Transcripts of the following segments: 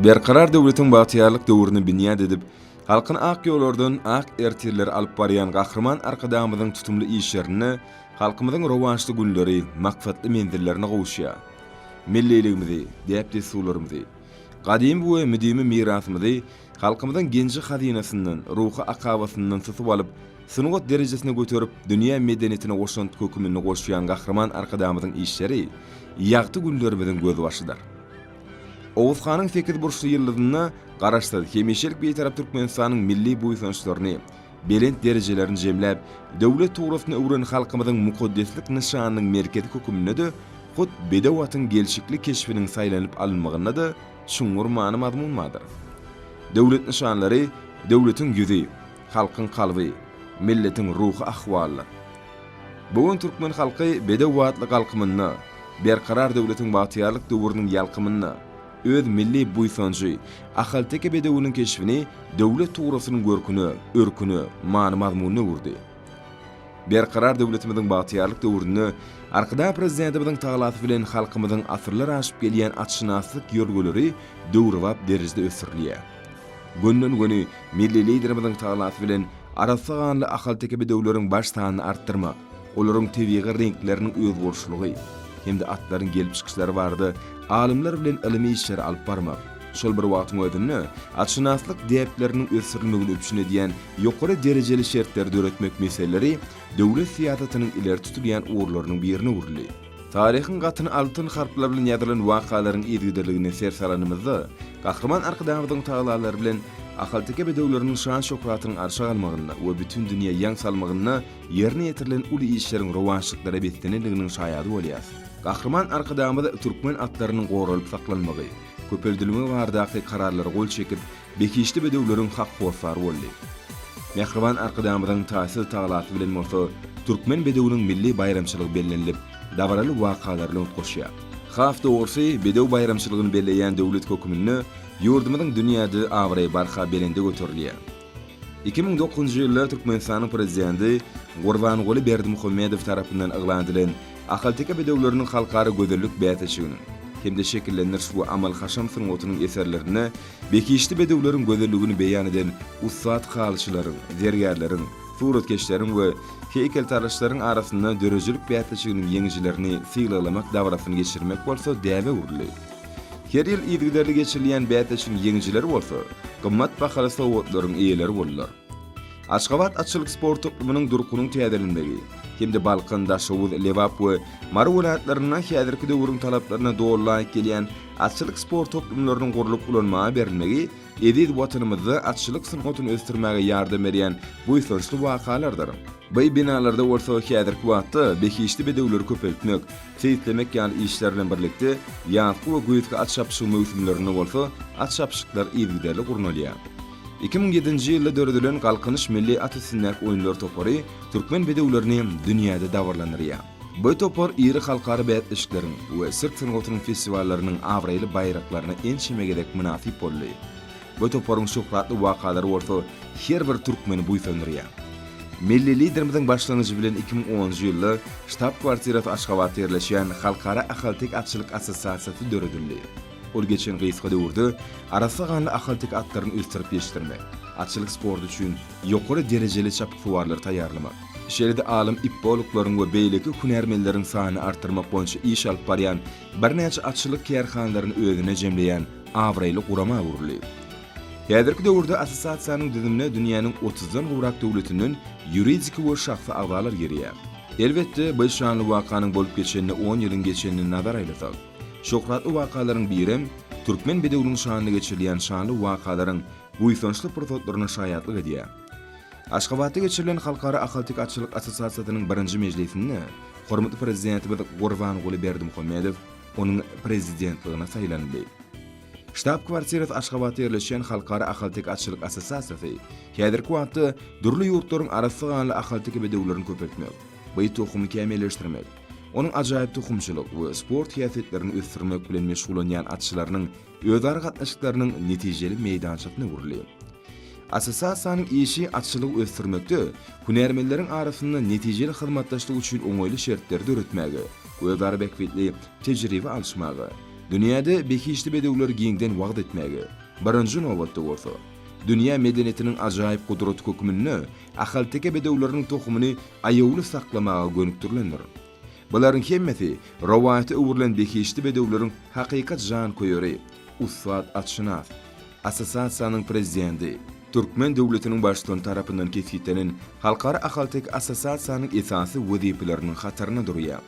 Berkarar döwletiň bagtyýarlyk döwrüni binýat edip, halkyny ak ýollardan ak ertirlere alyp barýan Gahryman Arkadagymyzyň tutumly işlerinde halkymyzyň rowaçly günleri maksatly menzillerine gowuşýar. Milliligimizi, däp-dessurlarymyzy, Gadymy we müdimi mirasymyzy halkymyzyň genji-hazynasyndan, ruhy akabasyndan tutup alyp, sungat derejesine göterip, dünýä medeniýetine goşant kökümini goşýan Gahryman Arkadagymyzyň işleri ýagty günlerimiziň gözbaşydyr. Oguz hanyň sekizburçly ýyldyzynda Garaşsyz, hemişelik Bitarap Türkmenistanyň milli buýsançlaryny, belent derejelerini jemläp, döwlet tugrasyna öwren halkymyzyň mukaddeslik nyşanynyň merkezi höküminde-de, hut bedew atyň gelşikli keşbiniň saýlanyp alynmagynda-da çuňňur many-mazmun bardyr. Döwlet nyşanlary döwletiň ýüzi, halkyň kalby, milletiň ruhy ahwalydyr. Bu gün türkmen halky bedew atly galkymynda, Berkarar döwletiň bagtyýarlyk döwrüniň ýalkymynda, Öz milli buýsanjy, ahalteke bedewiniň keşbini döwlet tugrasynyň görküne, örküne, many-mazmunyna öwürdi. Berkarar döwletimiziň bagtyýarlyk döwründe Arkadag Prezidentimiziň talasy bilen halkymyzyň asyrlar aşyp gelýän atşynaslyk ýörgüleri döwrebap derejede ösdürilýär. Günden-güni milli Liderimiziň talasy bilen arassa ganly ahalteke bedewleriň baş sanyny artdyrmak, Olaryň tebigy reňkleriniň özboluşlygy hem-de atlaryň gelip çykyşlary barada alymlar bilen ylmy işleri alyp barmak, şol bir wagtyň özünde atşynaslyk däpleriniň ösdürilmegini üpjün edýän ýokary derejeli şertleri döretmek meseleleri döwlet syýasatynyň ileri tutulýan ugurlarynyň birine öwrüldi. Taryhyň gatyny altyn harplar bilen ýazylan wakalaryň yzgiderligine ser salanymyzda, Gahryman Arkadagymyzyň tagallalary bilen ahalteke bedewleriniň şan-şöhratynyň arşa galmagynda we bütin dünýä ýaň salmagynda Ýerine ýetirilen uly işleriň rowaçlyklara beslenendiginiň şaýady bolýarys. Gahryman Arkadagymyz türkmen atlarynyň goralyp saklanmagy, köpeldilmegi baradaky kararlara gol çekip, behişdi bedewleriň hak hossary boldy. Mähriban Arkadagymyzyň taýsyz tagalasy bilen bolsa Türkmen bedewiniň milli baýramçylygy bellenilip, dabaraly wakalar bilen utgaşýar. Has dogrusy, bedew baýramçylygyny belleýän döwlet höküminde ýurdumyzyň dünýäde abraýy barha belende göterilýär. Iki müň dokuzynjy ýylda Türkmenistanyň Prezidenti Gurbanguly Berdimuhamedow tarapyndan yglan edilen Ahalteke bedewleriniň halkara gözellik bäsleşiginiň hem-de şekillendiriş we amal-haşam sungatynyň eserlerinde behişdi bedewleriň gözelligini beýan eden ussat halyçylaryň, zergärleriň, suratkeşleriň we heýkeltaraşlaryň arasynda döredijilik bäsleşiginiň ýeňijilerini sylaglamak dabarasyny geçirmek bolsa däbe öwrüldi. Her ýyl yzygiderli geçirilýän bäsleşigiň ýeňijileri bolsa, gymmat bahaly sowgatlaryň eýeleri boldular. Aşgabat atçylyk sport toplumynyň durkunyň täzelenmegi hem-de Balkan, Daşoguz, Lebap we Mary welaýatlarynda häzirki döwrüň talaplaryna doly laýyk gelýän atçylyk sport toplumlarynyň gurlup ulanmaga berilmegi Eziz Watanymyzda atçylyk sungatyny ösdürmäge ýardam berýän buýsançly wakalardyr. Baý binalarda bolsa häzirki wagtda behişdi bedewleri köpeltmek, seýislemek ýaly işler bilen birlikde, ýazky we güýzki at çapyşygy möwsümlerinde bolsa at çapyşyklar yzygiderli gurnalýar. Iki müň ýedinji ýylda döredilen Galkynyş milli at üstündäki oýunlar topary türkmen bedewlerini dünýäde dabaralandyrýar. Bu topar iri halkara bäsleşikleriň we sirk sungatynyň festiwallarynyň abraýly baýraklaryna ençeme gezek mynasyp boldy. Bu toparyň şöhratly wakalary bolsa her bir türkmeni buýsandyrýar. Milli Liderimiziň başlangyjy bilen iki müň onunjy ýylda ştab-kwartirasy Aşgabatda ýerleşýän Halkara ahalteke atçylyk assosiasiýasy döredildi. Ol geçen gysga döwürde arassa ganly ahalteke atlaryny ösdürip ýetişdirmek, atçylyk sporty üçin ýokary derejeli çapyksuwarlary taýýarlamak, şeýle-de alym ipboluklaryň we beýleki hünärmenleriň sanyny artdyrmak boýunça iş alyp barýan birnäçe atçylyk kärhanalaryny özüne jemleýän abraýly gurama öwrüldi. Häzirki döwürde assosiasiýanyň düzümine dünýäniň otuzdan gowrak döwletinden ýuridik we şahsy agzalar girýär. Elbetde, bir şanly wakanyň bolup geçenine on ýylyň geçenini nazara aýlasak, şöhratly wakalaryň birem, türkmen bedewiniň şanyna geçirilýän şanly wakalaryň buýsançly pursatlaryna şaýatlyk edýär. Aşgabatda geçirilen Halkara ahalteke atçylyk assosiasiýasynyň birinji mejlisinde hormatly Prezidentimiz Gurbanguly Berdimuhamedow onuň Prezidentligine saýlandy. Ştab-kwartirasy Aşgabatda ýerleşýän Halkara ahalteke atçylyk assosiasiýasy häzirki wagtda dürli ýurtlaryň arassa ganly ahalteke bedewlerini köpeltmek, baý tohumy kämilleşdirmek, onuň ajaýyp tohumçylyk we sport häsiýetlerini ösdürmek bilen meşgullanýan atçylarynyň özara gatnaşyklarynyň netijeli meýdançasyna öwrüldi. Assosiasiýanyň işi atçylygy ösdürmekde, hünärmenleriň arasynda netijeli hyzmatdaşlyk üçin oňaýly şertleri döretmäge, özara bähbitli tejribe alyşmaga, dünýäde behişdi bedewleri giňden wagyz etmäge, birinji nobatda bolsa, dünýä medeniýetiniň ajaýyp gudraty hökmünde ahalteke bedewleriniň tohumyny aýawly saklamaga gönükdirilendir. Bularyň hemmesi rowaýata öwrülen behişdi bedewleriň hakykat janköýeri, ussat atşynas, assosiasiýanyň prezidenti, türkmen döwletiniň baştutany tarapyndan kesgitlenen Halkara ahalteke assosiasiýanyň esasy wezipeleriniň hatarynda durýar.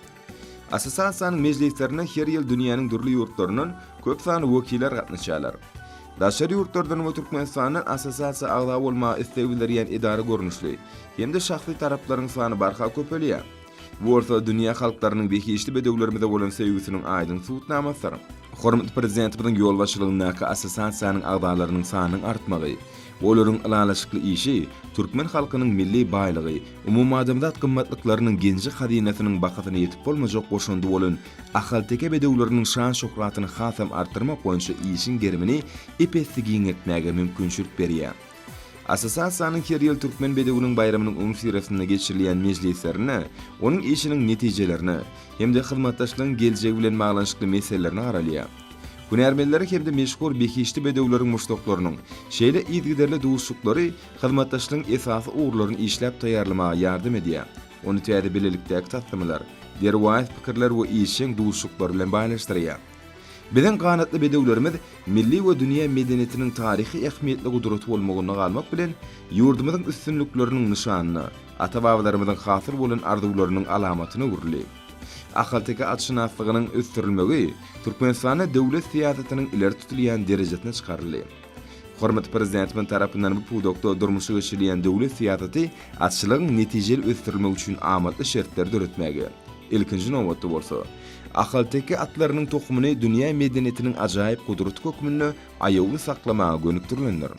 Assosiasiýanyň mejlislerine her ýyl dünýäniň dürli ýurtlaryndan köp sanly wekiller gatnaşýarlar. Daşary ýurtlardan we Türkmenistandan assosiasiýa agza bolmaga isleg bildirýän edara görnüşli hem-de şahsy taraplaryň sany barha köpelýär. Bu bolsa dünýä halklarynyň behişdi bedewlerimize bolan söýgüsiniň aýdyň subutnamasydyr. Hormatly Prezidentimiziň ýolbaşçylygyndaky assosiasiýanyň agzalarynyň sanynyň artmagy, olaryň ylalaşykly işi türkmen halkynyň milli baýlygy, umumadamzat gymmatlyklarynyň genji-hazynasynyň bahasyna ýetip bolmajak goşandy bolan ahalteke bedewleriniň şan-şöhratyny hasam artdyrmak boýunça işiň gerimini ep-esli giňeltmäge mümkinçilik berýär. Assosiasiýanyň her ýyl Türkmen bedewiniň baýramynyň öňüsyrasynda geçirilýän mejlislerinde onuň işiniň netijelerine hem-de hyzmatdaşlygyň geljegi bilen baglanyşykly meselelerine garalýar. Hünärmenleri hem-de meşhur behişdi bedewleriň muşdaklarynyň şeýle yzygiderli duşuşyklary hyzmatdaşlygyň esasy ugurlaryny işläp taýýarlamaga ýardam edýär, ony täze bilelikdäki taslamalar, derwaýys pikirler we işjeň duşuşyklar bilen baýlaşdyrýar. Biziň ganatly bedewlerimiz milli we dünýä medeniýetiniň taryhy ähmiýetli gudraty bolmagynda galmak bilen, ýurdumyzyň üstünlikleriniň nyşanyna, ata-babalarymyzyň hasyl bolan arzuwlarynyň alamatyna öwrüldi. Ahalteke atşynaslygynyň ösdürilmegi Türkmenistanda döwlet syýasatynyň ileri tutulýan derejesine çykaryldy. Hormatly Prezidentimiz tarapyndan bu pudakda durmuşa geçirilýän döwlet syýasaty atçylygyň netijeli ösdürilmegi üçin amatly şertleri döretmäge, ilkinji nobatda bolsa, ahalteke atlarynyň tohumyny dünýä medeniýetiniň ajaýyp gudraty hökmünde aýawly saklamaga gönükdirilendir.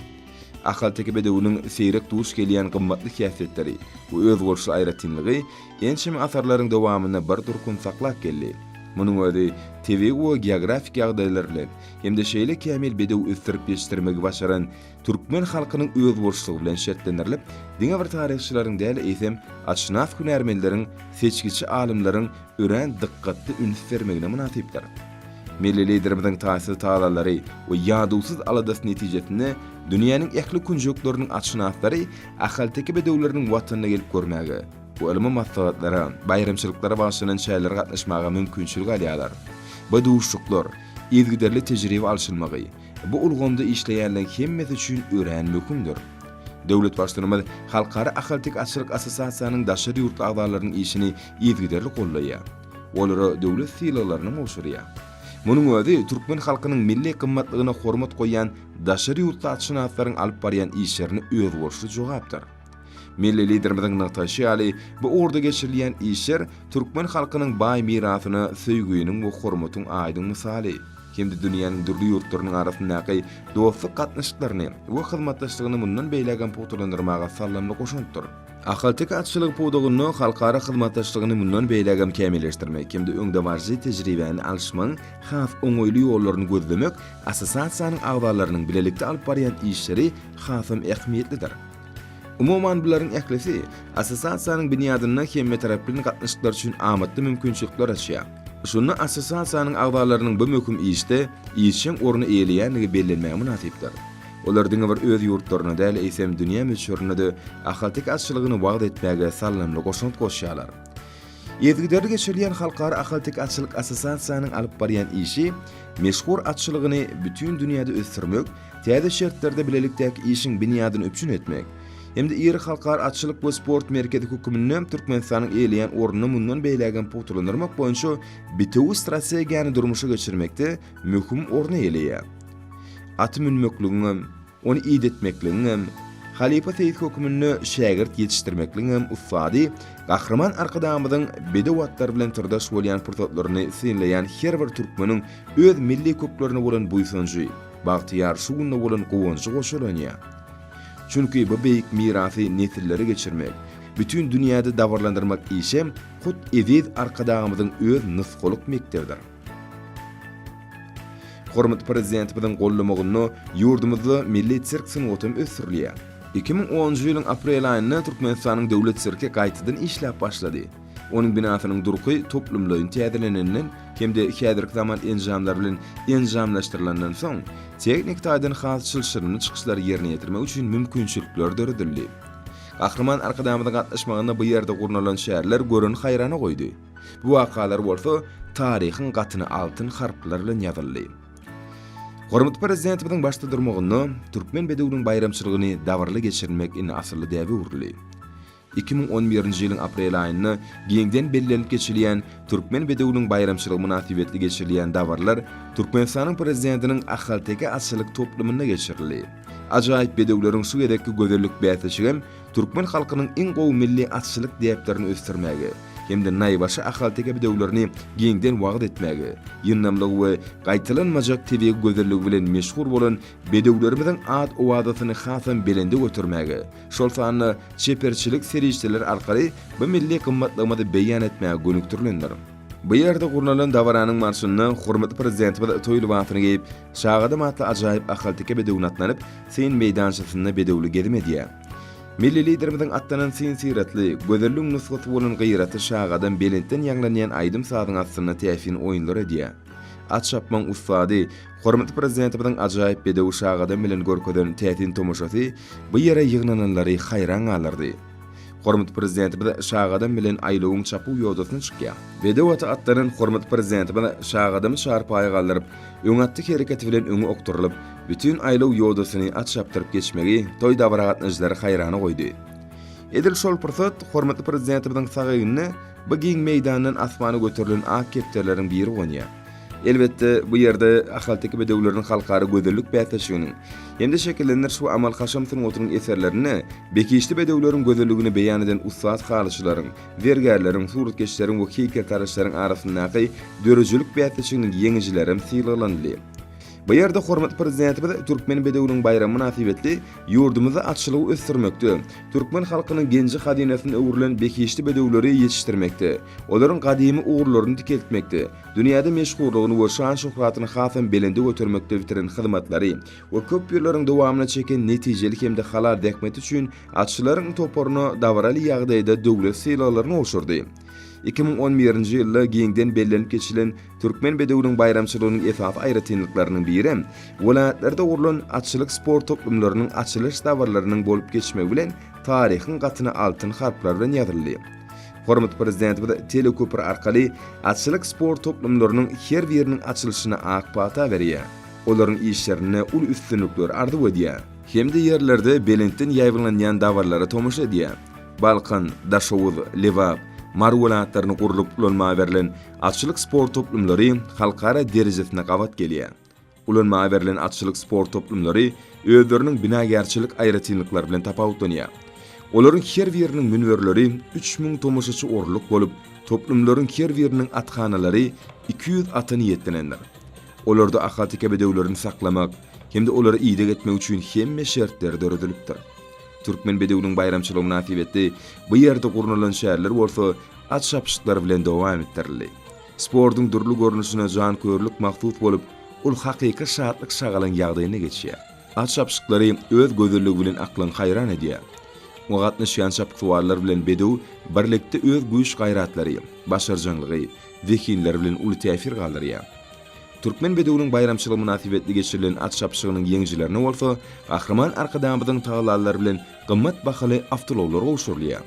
Ahalteke bedewiniň seýrek duş gelýän gymmatly häsiýetleri we özboluşly aýratynlygy ençeme asyrlaryň dowamynda bir durkun saklap geldi. Munuň özi tebigy we geografik ýagdaýlar bilen, hem-de şeýle kämil bedew ösdürip ýetişdirmegi başaran türkmen halkynyň özboluşlygy bilen şertlendirilip, diňe bir taryhçylaryň däl, eýsem, atşynas hünärmenleriň, seçgiçi alymlaryň örän dykgatly üns bermegine mynasypdyr. Milli Liderimiziň taýsyz tagallalary we ýadawsyz aladasy netijesinde dünýäniň ähli künjekleriniň atşynaslary ahalteke bedewleriniň watanyna gelip görmäge, Bu ylmy maslahatlara, baýramçylyklara bagyşlanan çärelere gatnaşmaga mümkinçilik alýarlar. Bu duşuşyklar, yzygiderli tejribe alşylmagy, bu ulgamda işleýänleriň hemmesi üçin örän möhümdir. Döwlet Baştutanymyz Halkara ahalteke atçylyk assosiasiýanyň daşary ýurtly agzalarynyň işini yzygiderli goldaýar, olara döwlet sylaglaryny gowşurýar. Munuň özi türkmen halkynyň milli gymmatlygyna hormat goýýan daşary ýurtly atşynaslaryň alyp barýan işlerine özboluşly jogapdyr. Milli Liderimiziň nygtaşy ýaly, bu ugurda geçirilýän işler türkmen halkynyň baý mirasyna söýginiň we hormatyň aýdyň mysaly hem-de dünýäniň dürli ýurtlarynyň arasyndaky dostluk gatnaşyklaryny we hyzmatdaşlygyny mundan beýlägem pugtalandyrmaga saldamly goşantdyr. Ahalteke atçylygy pudagynda halkara hyzmatdaşlygyny mundan beýlägem kämilleşdirmek hem-de öňdebaryjy tejribäni alyşmagyň has oňaýly ýollaryny gözlemek assosiasiýanyň agzalarynyň bilelikde alyp barýan işleri hasam ähmiýetlidir. Umuman bularyň ählisi assosiasiýanyň binýadynda hemmetaraplaýyn gatnaşyklar üçin amatly mümkinçilikler açýar. Şunda assosiasiýanyň agzalarynyň bu möhüm işde işjeň orny eýeleýändigi bellenmäge mynasypdyr. Olar diňe bir öz ýurtlarynda däl, eýsem dünýä möçberinde-de ahalteke atçylygyny wagyz etmäge salnamly goşant goşýarlar. Yzygiderli geçirilýän Halkara ahalteke atçylyk assosiasiýanyň alyp barýan işi meşhur atçylygyny bütin dünýäde ösdürmek, täze şertlerde bilelikdäki işiň binýadyny üpjün etmek hem-de iri halkara atçylyk we sport merkezi hökmünde Türkmenistanyň eýeleýän ornuny mundan beýlägem pugtalandyrmak boýunça bitewi strategiýany durmuşa geçirmekde möhüm orny eýeleýär. At münmekligiňem, ony idetmekligiňem, halypa seýis hökmünde şägirt ýetişdirmekligiňem ussady Gahryman Arkadagymyzyň bedew atlar bilen syrdaş bolýan pursatlaryny synlaýan her bir türkmeniň öz milli köklerine bolan buýsanjy, Bagtyýar şu günde bolan guwanjy goşalanýa. Çünki bu beýik mirasy nesillere geçirmek, bütin dünýäde dabaralandyrmak işem hut eziz Arkadagymyzyň öz nusgalyk mekdebidir. Hormatly Prezidentimiziň gollamagynda ýurdumyzda milli sirk sungatam ösdürilýär. Iki müň onunjy ýylyň aprel aýynda Türkmenistanyň Döwlet sirki gaýtadan işläp başlady. Onuň binasynyň durky toplumlaýyn täzelenenden hem-de häzirki zaman enjamlary bilen enjamlaşdyrylandan soň, tehniki taýdan has çylşyrymly çykyşlary ýerine ýetirmek üçin mümkinçilikler döredildi. Gahryman Arkadagymyzyň gatnaşmagynda bu ýerde gurnalan şärler göreni haýrana goýdy. Bu wakalar bolsa taryhyň gatyna altyn harplar bilen ýazyldy. Hormatly Prezidentimiziň başda durmagynda türkmen bedewiniň baýramçylygyny dabaraly geçirmek indi asylly däbe öwrüldi. Iki müň on birinji ýylyň aprel aýynda giňden bellenip geçilýän Türkmen bedewiniň baýramçylygy mynasybetli geçirilýän dabaralar Türkmenistanyň Prezidentiniň ahalteke atçylyk toplumynda geçirildi. Ajaýyp bedewleriň şu gezekki gözellik bäsleşigi hem türkmen halkynyň iň gowy milli atçylyk däplerini ösdürmäge hem-de naýbaşy ahalteke bedewlerini giňden wagyz etmäge, ýyndamlygy we gaýtalanmajak tebigy gözelligi bilen meşhur bolan Bedewlerimiziň at-owazasyny hasam belende götermäge, şol sanda çeperçilik serişdeleri arkaly bu milli gymmatlygymyzy beýan etmäge gönükdirilendir. Bu ýerde gurnalan dabaranyň barşynda hormatly Prezidentimiz toý lybasyny geýip, Şagadam atly ajaýyp ahalteke bedewine atlanip, syn meýdançasynda bedewli gezim edýär. Milli Liderimiziň atlanan syn-syratly, gözelligiň nusgasy bolan gyraty Şagadam belentden ýaňlanýan aýdym-sazyň astynda täsin oýunlar edýär. At çapmaň ussady, hormatly Prezidentimiziň ajaýyp bedew şagadam bilen görkezen täsin tomaşasy bu ýere ýygnananlary haýran galdyrdy. Hormatly Prezidentimiz şagadam bilen aýlawyň çapuw ýodasyna çykýar. Bedew aty atlanan hormatly Prezidentimiz şagadamy çarpaýa galdyryp, öň atdy hereketi bilen öňe okdurylyp, bütin aýlaw ýodasyny at çapdyryp geçmegi toý-dabara gatnaşyjylary haýrana goýdy. Edil şol pursat hormatly Prezidentimiziň sag egnine Bu giň meýdandan asmana göterilen ak kepderileriň biri gonýar. Elbetde, bu ýerde ahalteke bedewleriniň halkara gözellik bäsleşiginiň hem-de şekillendiriş we amal-haşam sungatynyň eserlerinde bekişli bedewleriň gözelligini beýan eden ussat halyçylaryň, zergärleriň, suratkeşleriň we heýkeltaraşlaryň arasyndaky döredijilik bäsleşiginiň ýeňijilerem sylaglanyldy. Bu ýerde hormatly Prezidentimiz Türkmen bedewiniň baýramy mynasybetli ýurdumyzda atçylygy ösdürmekde, türkmen halkynyň genji-hazynasyna öwrülen behişdi bedewleri ýetişdirmekde, olaryň gadymy ugurlaryny dikeltmekde, dünýäde meşhurlygyny we şan-şöhratyny hasam belende götermekde bitiren hyzmatlary we köp ýyllaryň dowamynda çeken netijeli hem-de halal zähmeti üçin atçylaryň toparyna dabaraly ýagdaýda döwlet sylaglaryny gowşurdy. Iki müň on birinji ýylda giňden bellenip geçilen Türkmen bedewiniň baýramçylygynyň esasy aýratynlyklarynyň biri, welaýatlarda gurlan atçylyk sport toplumlarynyň açylyş dabaralarynyn bolup geçmegi bilen taryhyň gatyna altyn harplar bilen ýazyldy. Hormatly Prezidentimiz teleköpri arkaly atçylyk sport toplumlarynyň her biriniň açylyşyna ak pata berýär, olaryň işlerinde uly üstünlikleri arzuw edýär. Hem-de ýerlerde belentden ýaýbaňlanýan dabaralara tomaşa edýär. Balkan, Daşoguz, Lebap, Mary welaýatlarynda gurlup ulanma berlen Atçylyk sport toplumlary halkara derejesinde gabat gelýär. Ulanmaga berlen atçylyk sport toplumlary özleriniň binagärçilik aýratynlyklary bilen tapawutlanýar. Olaryň her biriniň münberleri üç müň tomaşaçy orunlyk bolup, toplumlaryň her biriniň athanalary iki ýüz ata niýetlenendir. Olarda ahalteke bedewlerini saklamak hem-de olara ideg etmek üçin hemme şertler döredilipdir. Türkmen bedewiniň baýramçylygy mynasybetli bu ýerde gurnalan şärler bolsa at çapyşyklar bilen dowam etdirildi. Sportuň dürli görnüşine janköýerlik mahsus bolup, ol hakyky şatlyk-şagalaň ýagdaýynda geçýär. At çapyşyklary öz gözelligi bilen aklyňy haýran edýär. Oňa gatnaşýan çapyksuwarlar bilen bedew birlikde öz güýç-gaýratlary, başarjaňlygy, zehinleri bilen uly täsir galdyrýar. Türkmen bedewiniň baýramçylygy mynasybetli geçirilen at çapyşygynyň ýeňijilerine bolsa Gahryman Arkadagymyzyň tagallalary bilen gymmat bahaly awtoulaglar gowşurylýar.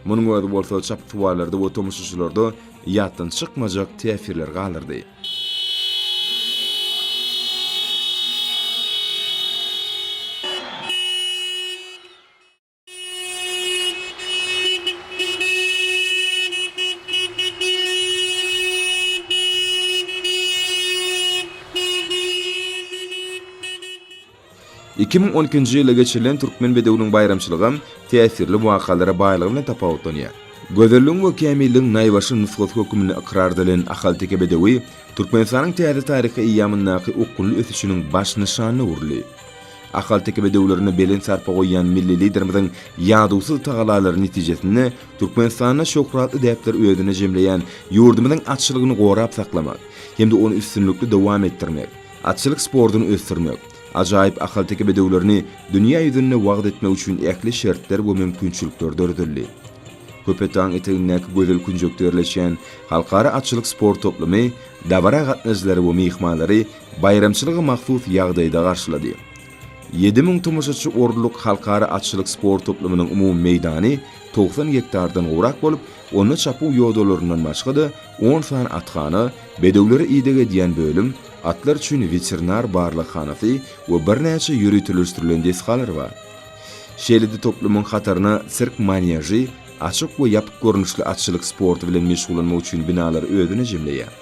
Munuň özi bolsa çapyksuwarlarda we tomaşaçylarda ýatdan çykmajak täsirler galdyrdy. Iki müň on ikinji ýylda geçirilen Türkmen bedewiniň baýramçylygam täsirli wakalara baýlygy bilen tapawutlanýar. Gözelligiň we kämilligiň naýbaşy nusgasy hökmünde ykrar edilen ahalteke bedewi Türkmenistanyň täze taryhy eýýamyndaky okgunly ösüşiniň baş nyşanyna öwrüldi. Ahalteke bedewlerine belent sarpa goýýan milli Liderimiziň ýadawsyz tagalalary netijesinde Türkmenistanda şöhratly däpleri özünde jemleýän ýurdumyzyň atçylygyny gorap saklamak hem-de ony üstünlikli dowam etdirmek, Atçylyk sportuny ösdürmek, ajaýyp ahalteke bedewlerini dünýä ýüzünde wagyz etmek üçin ähli şertler we mümkinçilikler döredildi. Köpetdagyň etegindäki gözel künjekde ýerleşýän Halkara atçylyk sport toplumy dabara gatnaýjylary we myhmanlary baýramçylyga mahsus ýagdaýda garşylady. Ýedi müň tomaşaçy orunlyk Halkara atçylyk sport toplumynyň umumy meýdany togsan gektardan gowrak bolup, onda çapuw ýodalaryndan başga-da, on sany athana, Bedewlere ideg edýän bölüm, atlar üçin weterinar barlaghanasy we birnäçe ýöriteleşdirilen desgalar bar. Şeýle-de toplumyň hataryna sirk manýažy, açyk we ýapyk görnüşli atçylyk sporty bilen meşgullanmak üçin binalary özüne jemleýär.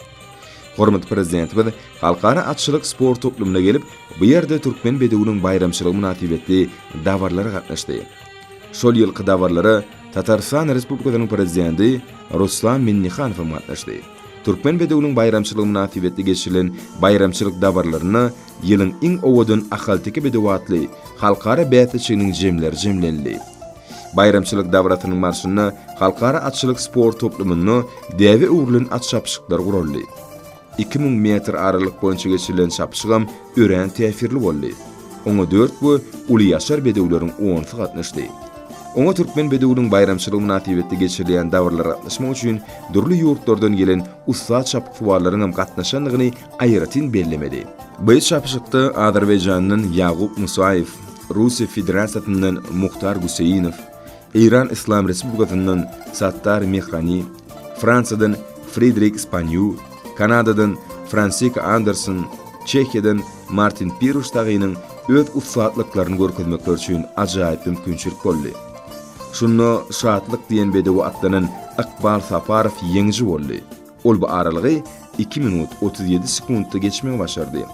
Hormatly Prezidentimiz Halkara atçylyk sport toplumyna gelip, bu ýerde türkmen bedewiniň baýramçylygy mynasybetli dabarlara gatnaşdy. Şol ýylky dabarlara Tatarystan Respublikasynyň Prezidenti Ruslan Minnihanow hem gatnaşdy. Türkmen bedewiniň baýramçylygy mynasybetli geçirilen baýramçylyk dabaralarynda Ýylyň iň owadan ahalteke bedewi atly halkara bäsleşiginiň jemleri jemlenildi. Baýramçylyk dabarasynyň barşynda halkara atçylyk sport toplumynda däbe öwrülen at çapyşyklary guraldy. Iki müň metr aralyk boýunça geçirilen çapyşygam örän täsirli boldy. Oňa dört we uly ýaşar bedewleriň onsy gatnaşdy. Oňa türkmen bedewiniň baýramçylygy mynasybetli geçirilýän dabaralara gatnaşmak üçin dürli ýurtlardan gelen ussat çapyksuwarlaryň hem gatnaşandygyny aýratyn bellemeli. Bu çapyşykda Azerbaýjandan Ýagup Musaýew, Russiýa Federasiýasyndan Muhtar Guseýnow, Eýran Yslam Respublikasyndan Sattar Mehrani, Fransiýadan Fridrik Spanýu, Kanadadan Fransika Anderson, Çehiýadan Martin Piruş Tagynyň öz ussatlyklaryny görkezmekleri üçin ajaýyp mümkinçilik boldy. Şunda Şatlyk diýen bedewe atlanan Ykbal Saparow ýeňiji boldy. Ol bu aralygy iki minut, otuz ýedi sekuntda geçmegi başardy.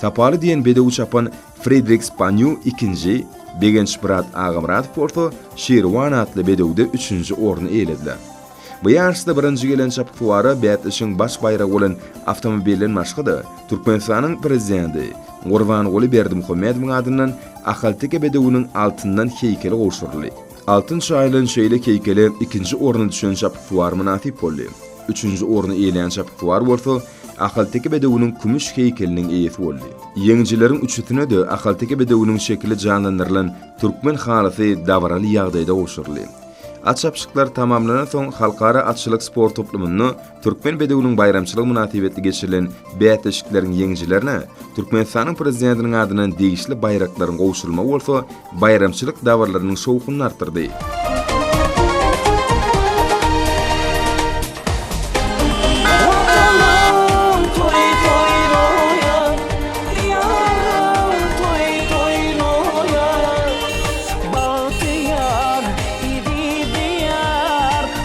Sapaly diýen bedewi çapan Fridrik Spanýu ikinji, Begençmyrat Agamyradow bolsa Şirwan atly bedewde üçünji orny eýelediler. Bu ýaryşda birinji gelen çapyksuwara bäsleşigiň baş baýragy bolan awtomobilden başga-da, Türkmenistanyň Prezidenti Gurbanguly Berdimuhamedowyň adyndan ahalteke bedewiniň altyndan heýkeli gowşuryldy. Altyn çaýylan şeýle keýkele ikinji orna düşen çapyksuwar mynasyp boldy. Üçünji orny eýelän çapyksuwar bolsa Ahalteke bedewiniň kümüş heýkeliniň eýesi boldy. Ýeňijileriň üçüsine-de Ahalteke bedewiniň şekili janlandyrylan türkmen halysy dabaraly ýagdaýda gowşuryldy. At çapyşyklary tamamlanansoň, halkara atçylyk sport toplumynda Türkmen bedewiniň baýramçylygy mynasybetli geçirilen bäsleşikleriň ýeňijilerine Türkmenistanyň Prezidentiniň adyndan degişli baýraklaryň gowşurylmagy bolsa baýramçylyk dabaralyrynyň şowhunyny artdyrdy.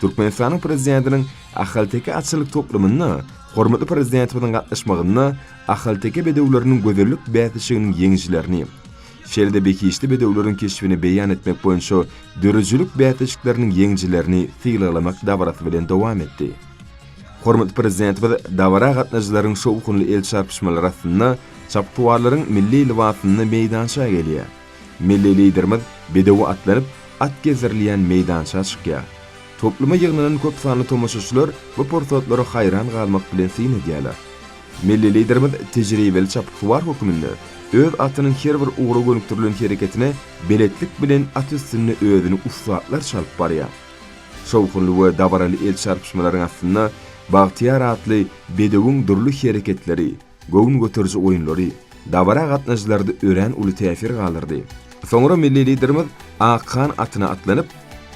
Türkmenistanyň Prezidentiniň Ahalteke atçylyk toplumyna hormatly Prezidentimiziň gatnaşmagynda ahalteke bedewleriniň gözellik bäsleşiginiň ýeňijilerini, şeýle-de behişdi bedewleriň keşbini beýan etmek boýunça döredijilik bäsleşikleriniň ýeňijilerini sylaglamak dabarasy bilen dowam etdi. Hormatly Prezidentimiz dabara gatnaşyjylaryň şowhunly el çarpyşmalary astynda çapyksuwarlaryň milli lybasyny meýdança gelýär. Milli Liderimiz bedewe atlanyp, at gezdirilýän meýdança çykýar. Topluma ýygnanan köp sanly tomaşaçylar bu pursatlara haýran galmak bilen syn edýärler. Milli Liderimiz tejribeli çapyksuwar hökmünde öz atynyň her bir ugra gönükdirilen hereketine beletlik bilen at üstünde özüni ussatlarça alyp barýar. Şowhunly we dabaraly el çarpyşmalaryň astynda Bagtyýar atly bedewiň dürli hereketleri, Göwün göteriji oýunlary dabara gatnaşyjylarda örän uly täsir galdyrdy. Soňra milli Liderimiz ak kan atyna atlanyp,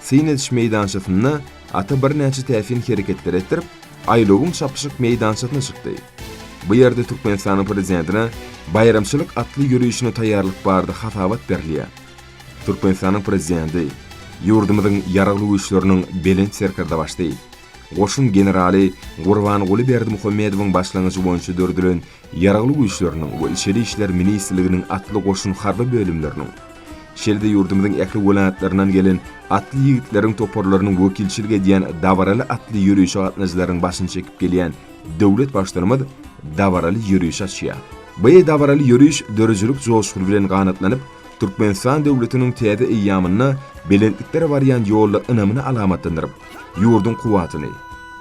syn ediş meýdançasynda ata birnäçe täsin hereketler etdirip, aýlawyň çapyşyk meýdançasyna çykdy. Bu ýerde Türkmenistanyň Prezidentine baýramçylyk atly ýörişine taýýarlyk barada hasabat berilýär. Türkmenistanyň Prezidenti ýurdumyzyň Ýaragly Güýçleriniň Belent Serkerdebaşy Goşun generaly Gurbanguly Berdimuhamedowyň başlangyjy boýunça döredilen Ýaragly Güýçleriniň we Içeri işler ministrliginiň atly goşun harby bölümleriniň, şeýle-de ýurdumyzyň ähli welaýatlaryndan gelen atly ýigitleriň toparlarynyň wekilçilik edýän dabaraly atly ýörişe gatnaýjylaryň başyny çekip gelýän döwlet Baştutanymyz dabaraly ýörişi açýar. Bu dabaraly ýöriş döredijilik joşguny bilen ganatlanyp, Türkmenistan döwletiniň täze eýýamynda belentliklere barýan ýolda ynamyny alamatlandyryp, ýurduň kuwwatyny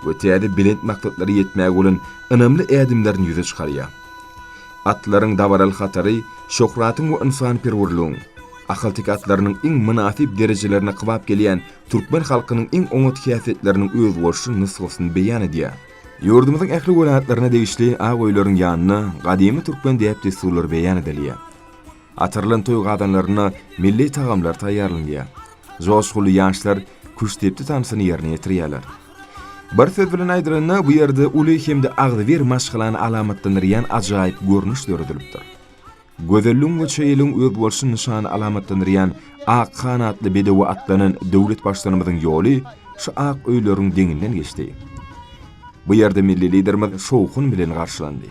we täze belent maksatlara ýetmäge bolan ynamly ädimlerini ýüze çykarýar. Atlaryň dabaraly hatary şöhratyň we ynsanperwerligiň, ahalteke atlarynyň iň mynasyp derejelerine kybap gelýän türkmen halkynyň iň oňat häsiýetleriniň özboluşly nusgasyny beýan edýär. Ýurdumyzyň ähli welaýatlaryna degişli ak öýleriň ýanynda gadymy türkmen däp-dessurlary beýan edilýär. Atyrylan toý gazanlarynda milli tagamlar taýýarlanýar. Joşguly ýaşlar küştdepdi tansyny ýerine ýetirýärler. Bir söz bilen aýdylanda, bu ýerde uly hem-de agzybir maşgalany alamatlandyrýan ajaýyp görnüş döredilipdir. Gözelligiň we çeýeligiň özboluşly nyşany alamatlandyrýan ak ganatly bedewe atlanan döwlet Baştutanymyzyň ýoly şu ak öýleriň deňinden geçdi. Bu ýerde milli Liderimiz şowhun bilen garşylandy.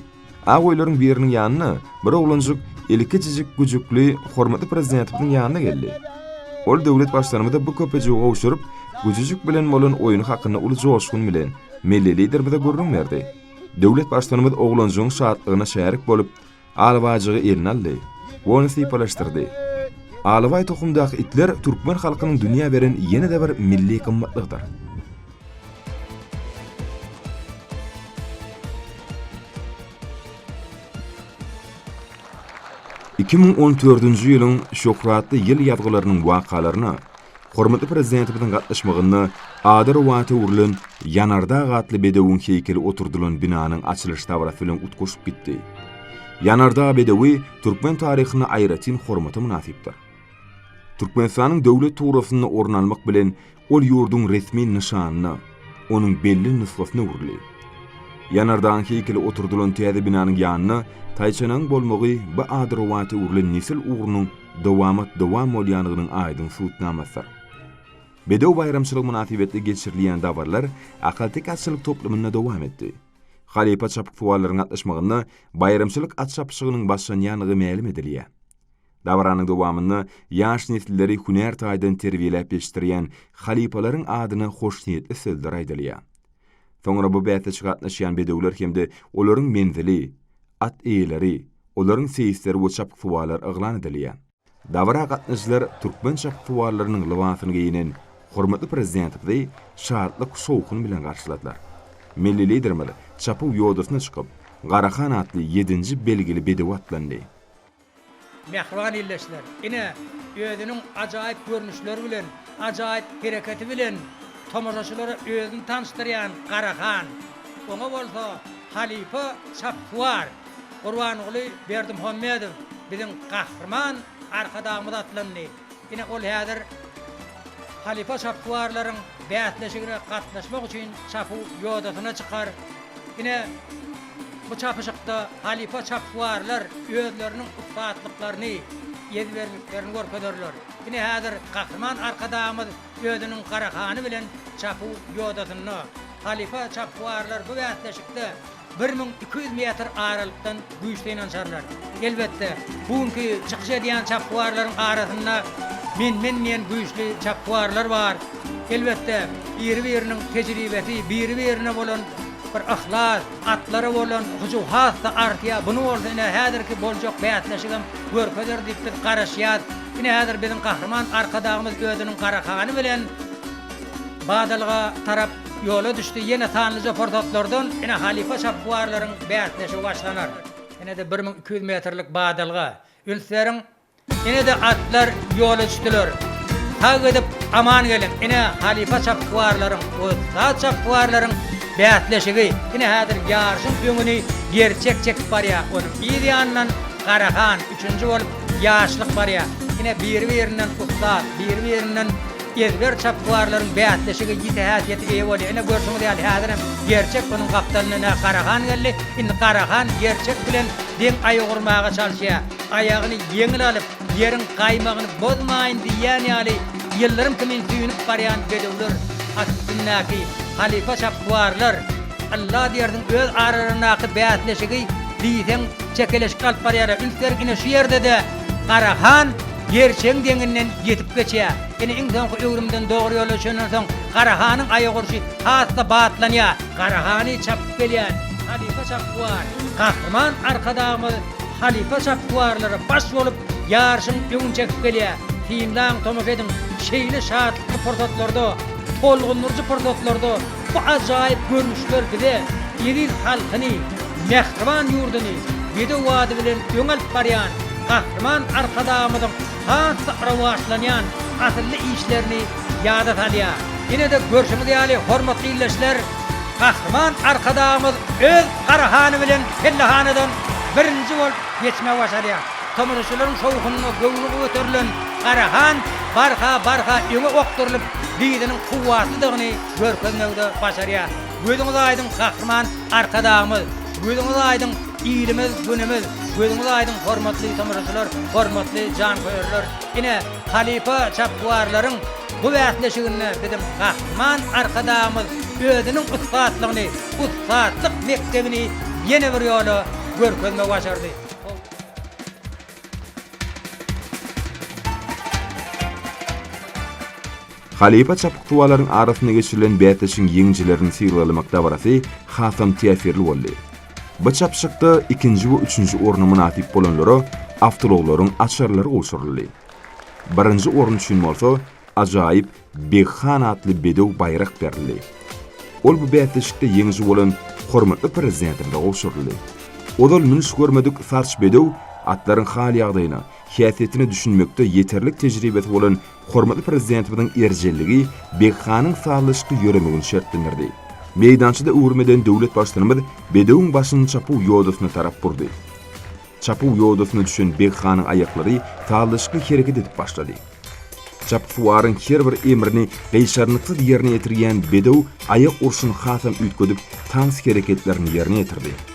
Ak öýleriň biriniň ýanyna bir oglanjyk eli kiçijik güjükli hormatly Prezidentimiziň ýanyna geldi. Ol döwlet Baştutanymyza bu köpejigi gowşuryp, güjüjik bilen bolan oýny hakynda uly joşgun bilen Milli Liderimize gürrüň berdi. Döwlet Baştutanymyz oglanjygyň şatlygyna şärik bolup, alabajygy eline aldy we ony sypalaşdyrdy. Alabaý tohumdaky itler türkmen halkynyň dünýä beren ýene-de bir milli gymmatlygydyr. Iki müň on dördünji ýylyň şöhratly ýyl ýazgylarynyň wakalaryna hormatly Prezidentimiziň gatnaşmagynda ady rowata öwrülen Ýanardag atly bedewiň heýkeli oturdylan binanyň açylyş dabarasy bilen utgaşyp gitdi. Ýanardag bedewi türkmen taryhynda aýratyn hormata mynasypdyr. Türkmenistanyň Döwlet tugrasynda orun almak bilen, ol ýurduň resmi nyşanyna, onuň belli nusgasyna öwrüldi. Ýanardagyň heýkeli oturdylan täze binanyň ýanynda taýçanagyň bolmagy bu ady rowata öwrülen nesil ugrunyň dowamat dowam bolýandygynyň aýdyň subutnamasydyr. Bedew baýramçylygy mynasybetli geçirilýän dabaralar ahalteke atçylyk toplumynda dowam etdi. Halypa çapyksuwarlaryň gatnaşmagynda baýramçylyk at çapyşygynyň başlanýandygy mälim edilýär. Dabaranyň dowamynda ýaş nesilleri hünär taýdan terbiýeläp ýetişdirýän halypalaryň adyna hoşniýetli sözler aýdylýar. Soňra bu bäsleşige gatnaşýan bedewler hem-de olaryň menzili, at eýeleri, olaryň seýisleri we çapyksuwarlar yglan edilýär. Dabara gatnaşyjylar türkmen çapyksuwarlarynyň lybasyny geýnen hormatly Prezidentimizi şatlyk-şowhun bilen garşyladylar. Milli Liderimiz çapyw ýodasyna çykyp, Garahan atly ýedinji belgili bedewe atlandy. Mähriban ildeşler, ine, özüniň ajaýyp görnüşleri bilen, ajaýyp hereketi bilen tomaşaçylara özüni tanyşdyrýan Garahan, oňa bolsa halypa çapyksuwar Gurbanguly Berdimuhamedow, biziň Gahryman Arkadagymyz atlandy. Ine, ol häzir halypa şapywarlaryň bäsleşigine gatnaşmak üçin çapyw ýodasyna çykar. Ine, bu çapyşykda halypa çapywarlar özleriniň ussatlyklaryny, ezberliklerini görkezerler. Ine, häzir Gahryman Arkadagymyz özüniň Garahany bilen çapyw ýodasynda. Halypa çapywarlar bu bäsleşikde bir müň iki ýüz metr aralykdan güýçli ynanşarlar. Elbetde, bu günki çykyş edýän çapykwarlaryň arasynda men-men diýen güýçli çapykwarlar bar. Elbetde, biri-biriniň tejribesi, biri-birine bolan bir yhlas, atlara bolan hyjuw has-da artýar. Bunu bolsa ine häzirki boljak bäsleşigem görkezer diýip biz garaşýas. Ine häzir biziň Gahryman Arkadagymyz özüniň Garahany bilen badalga tarap Ýola düşdi ýene sanlyja pursatlardan ine halypa şapbuarlaryň bäsleşigi başlanar. Ine-de bir müň iki ýüz metrlik badalga. Üns beriň! Ine-de atlar ýola düşdüler. Sag gidip, aman geliň! Ine halypa şapbuarlaryň, ussat şapbuarlaryň bäsleşigi. Ine häzir ýaryşyň öňüni Gerçek çekip barýar. Onuň yz ýanyndan Garahan, üçünji bolup Ýaşlyk barýar. Ine biri-birinden ussat, biri-birinden Ezber çapykwarlaryň bäsleşige ýiti häsiýete eýe bolýar. Ine, görşüňiz ýaly, häzir hem Gerçek munuň gapdalyna ine Garahan geldi. Indi Garahan Gerçek bilen deň aýak urmaga çalyşýar. Aýagyny ýeňil alyp, ýeriň gaýmagyny bozmaýyn diýýän ýaly, ýyldyrym kimin süýnüp barýan bedewler, at üstündäki halypa çapykwarlar, ylla diýersiň, öz aralaryndaky bäsleşigi diýseň çekeleşik alyp barýarlar. Üns beriň, ine şu ýerde-de Garahan. Ýer çeň deňinden ýetip geçýär. Ine, iň soňky öwrümden dogry ýola düşenden soň, Gara hanyň aýak urşy has-da batlanýar. Gara hany çapyp gelýän halypa Çapbuwar, Gahryman Arkadagymyz halypa Çapbuwarlara baş bolup, ýaryşyň öňüni çekip gelýär. Synlaň, tomaşa ediň, şeýle şatlykly pursatlarda, tolgundyryjy pursatlarda, Bu ajaýyp görnüşler bize eziz halkyny, mähriban ýurduny bedew bady bilen öňe alyp barýan Gahryman Arkadagymyzyň has-da rowaçlanýan asylly işlerini ýada salýar. Ýene-de görşüňiz ýaly, hormatly ildeşler, Gahryman Arkadagymyz öz Garahany bilen pellehanadan birinji bolup geçmegi başarýar. Tomaşaçylaryň şowhunyna göwni göterilen Garahan barha-barha öňe okdurylyp, dyzynyň kuwwatlydygyny görkezmegi-de başarýar. Gözüňiz aýdyň Gahryman Arkadagymyz, gözüňiz aýdyň ilimiz, günümiz, gözüňiz aýdyň hormatly tomaşaçylar, hormatly janköýerler! Ine, halypa çapykwarlaryň bu bäsleşiginde biziň Gahryman Arkadagymyz özüniň ussatlygyny, ussatlyk mekdebini ýene bir ýola görkezmegi başardy. Halypa çapyksuwarlaryň arasynda geçirilen bäsleşigiň ýeňijilerini sylaglamak dabarasy hasam täsirli boldy. Bu çapyşykda ikinji we üçünji orna mynasyp bolanlara awtoulaglaryň açarlary gowşuryldy. Birinji orun üçin bolsa ajaýyp Beg han atly bedew baýrak berildi. Ol bu bäsleşikde ýeňiji bolan hormatly Prezidentimize gowşuryldy. Ozal münüş görmedik Sarç bedew atlaryň hal-ýagdaýyna, häsiýetine düşünmekde ýeterlik tejribesi bolan Hormatly Prezidentimiziň erjelligi Beghanyň sazlaşykly ýöremegini şertlendirdi. Meýdançada öwrüm eden döwlet Baştutanymyz bedewiň başyny çapuw ýodasyna tarap burdy. Çapuw ýodasyna düşen Beghanyň aýaklary sazlaşykly hereket edip başlady. Çapyksuwaryň her bir emrini gyşarnyksyz ýerine ýetirýän bedew aýak urşuny hasam üýtgedip, tans hereketlerini ýerine ýetirdi.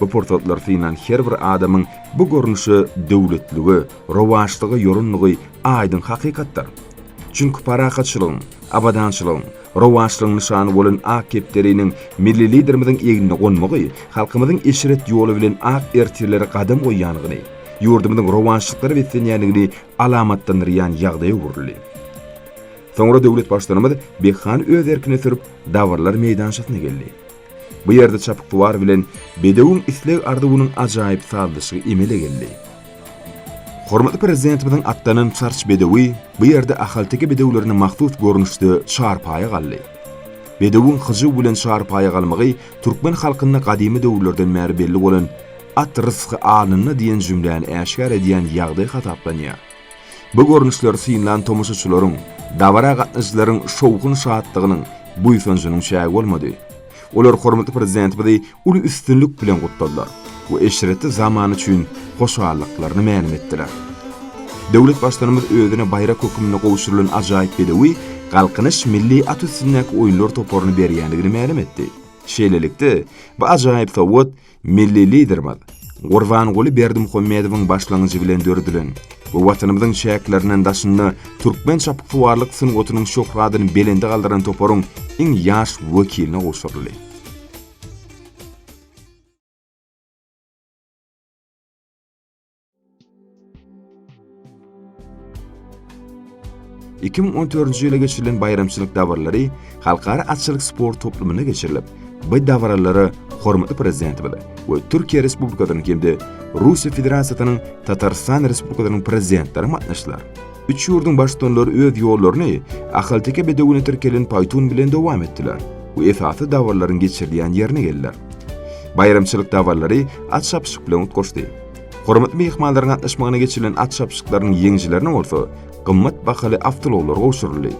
Bu pursatlary synan her bir adamyň bu görnüşe döwletlige, rowaçlyga ýorandygy aýdyň hakykatdyr. Çünki parahatçylygyň, abadançylygyň, rowaçlygyň nyşany bolan ak kepderiniň Milli Liderimiziň egnine gonmagy halkymyzyň eşret ýoly bilen ak ertirlere gadam goýýandygyny, ýurdumyzyň rowaçlyklara beslenýändigini alamatlandyrýan ýagdaýa öwrüldi. Soňra döwlet Baştutanymyz Behany öz erkine sürüp, dabarlar meýdançasyna geldi. Bu ýerde çapyksuwar bilen bedewiň isleg-arzuwynyň ajaýyp sazlaşygy emele geldi. Hormatly Prezidentimiziň atlanan çarç bedewi bu ýerde ahalteke bedewlerine mahsus görnüşde çarpaýa galdy. Bedewiň hyjuw bilen çarpaýa galmagy türkmen halkynda gadymy döwürlerden bäri belli bolan At rysgy alnynda diýen jümläni äşgär edýän ýagdaý hasaplanýar. Bu görnüşleri synlan tomaşaçylaryň, dabara gatnaşyjylaryň şowhun-şatlygynyň, buýsanjynyň çägi bolmady. Olar hormatly Prezidentimizi uly üstünlik bilen gutladylar we eşretli zaman üçin hoşallyklaryny mälim etdiler. Döwlet Baştutanymyz özüne baýrak hökmünde gowşurylan ajaýyp bedewi Galkynyş milli at üstündäki oýunlar toparyna berýändigini mälim etdi. Şeýlelikde, bu ajaýyp sowgat, Milli Liderimiz Gurbanguly Berdimuhamedowyň başlangyjy bilen döredilen we Watanymyzyň çäkleriniň daşynda türkmen çapyksuwarlyk sungatynyň şöhratyny belende galdyran toparyň iň ýaş wekiline gowşuryldy. Iki müň on dördünji ýyla geçirilen baýramçylyk dabaraly halkara atçylyk sport toplumynda geçirilip, bu dabaralara hormatly Prezidentimiz we Türkiýe Respublikasynyň hem-de Russiýa Federasiýasynyň Tatarystan Respublikasynyň Prezidentleri gatnaşdylar. Üç ýurduň baştutanlary öz ýollaryny ahalteke bedewine tirkelen paýtun bilen dowam etdiler we esasy dabaralaryň geçirilýän ýerine geldiler. Baýramçylyk dabaralary at çapyşyk bilen utgaşdy. Hormatly myhmanlaryň gatnaşmagynda geçirilen at çapyşyklarynyň ýeňijilerine bolsa gymmat bahaly awtoulaglar gowşuryldy.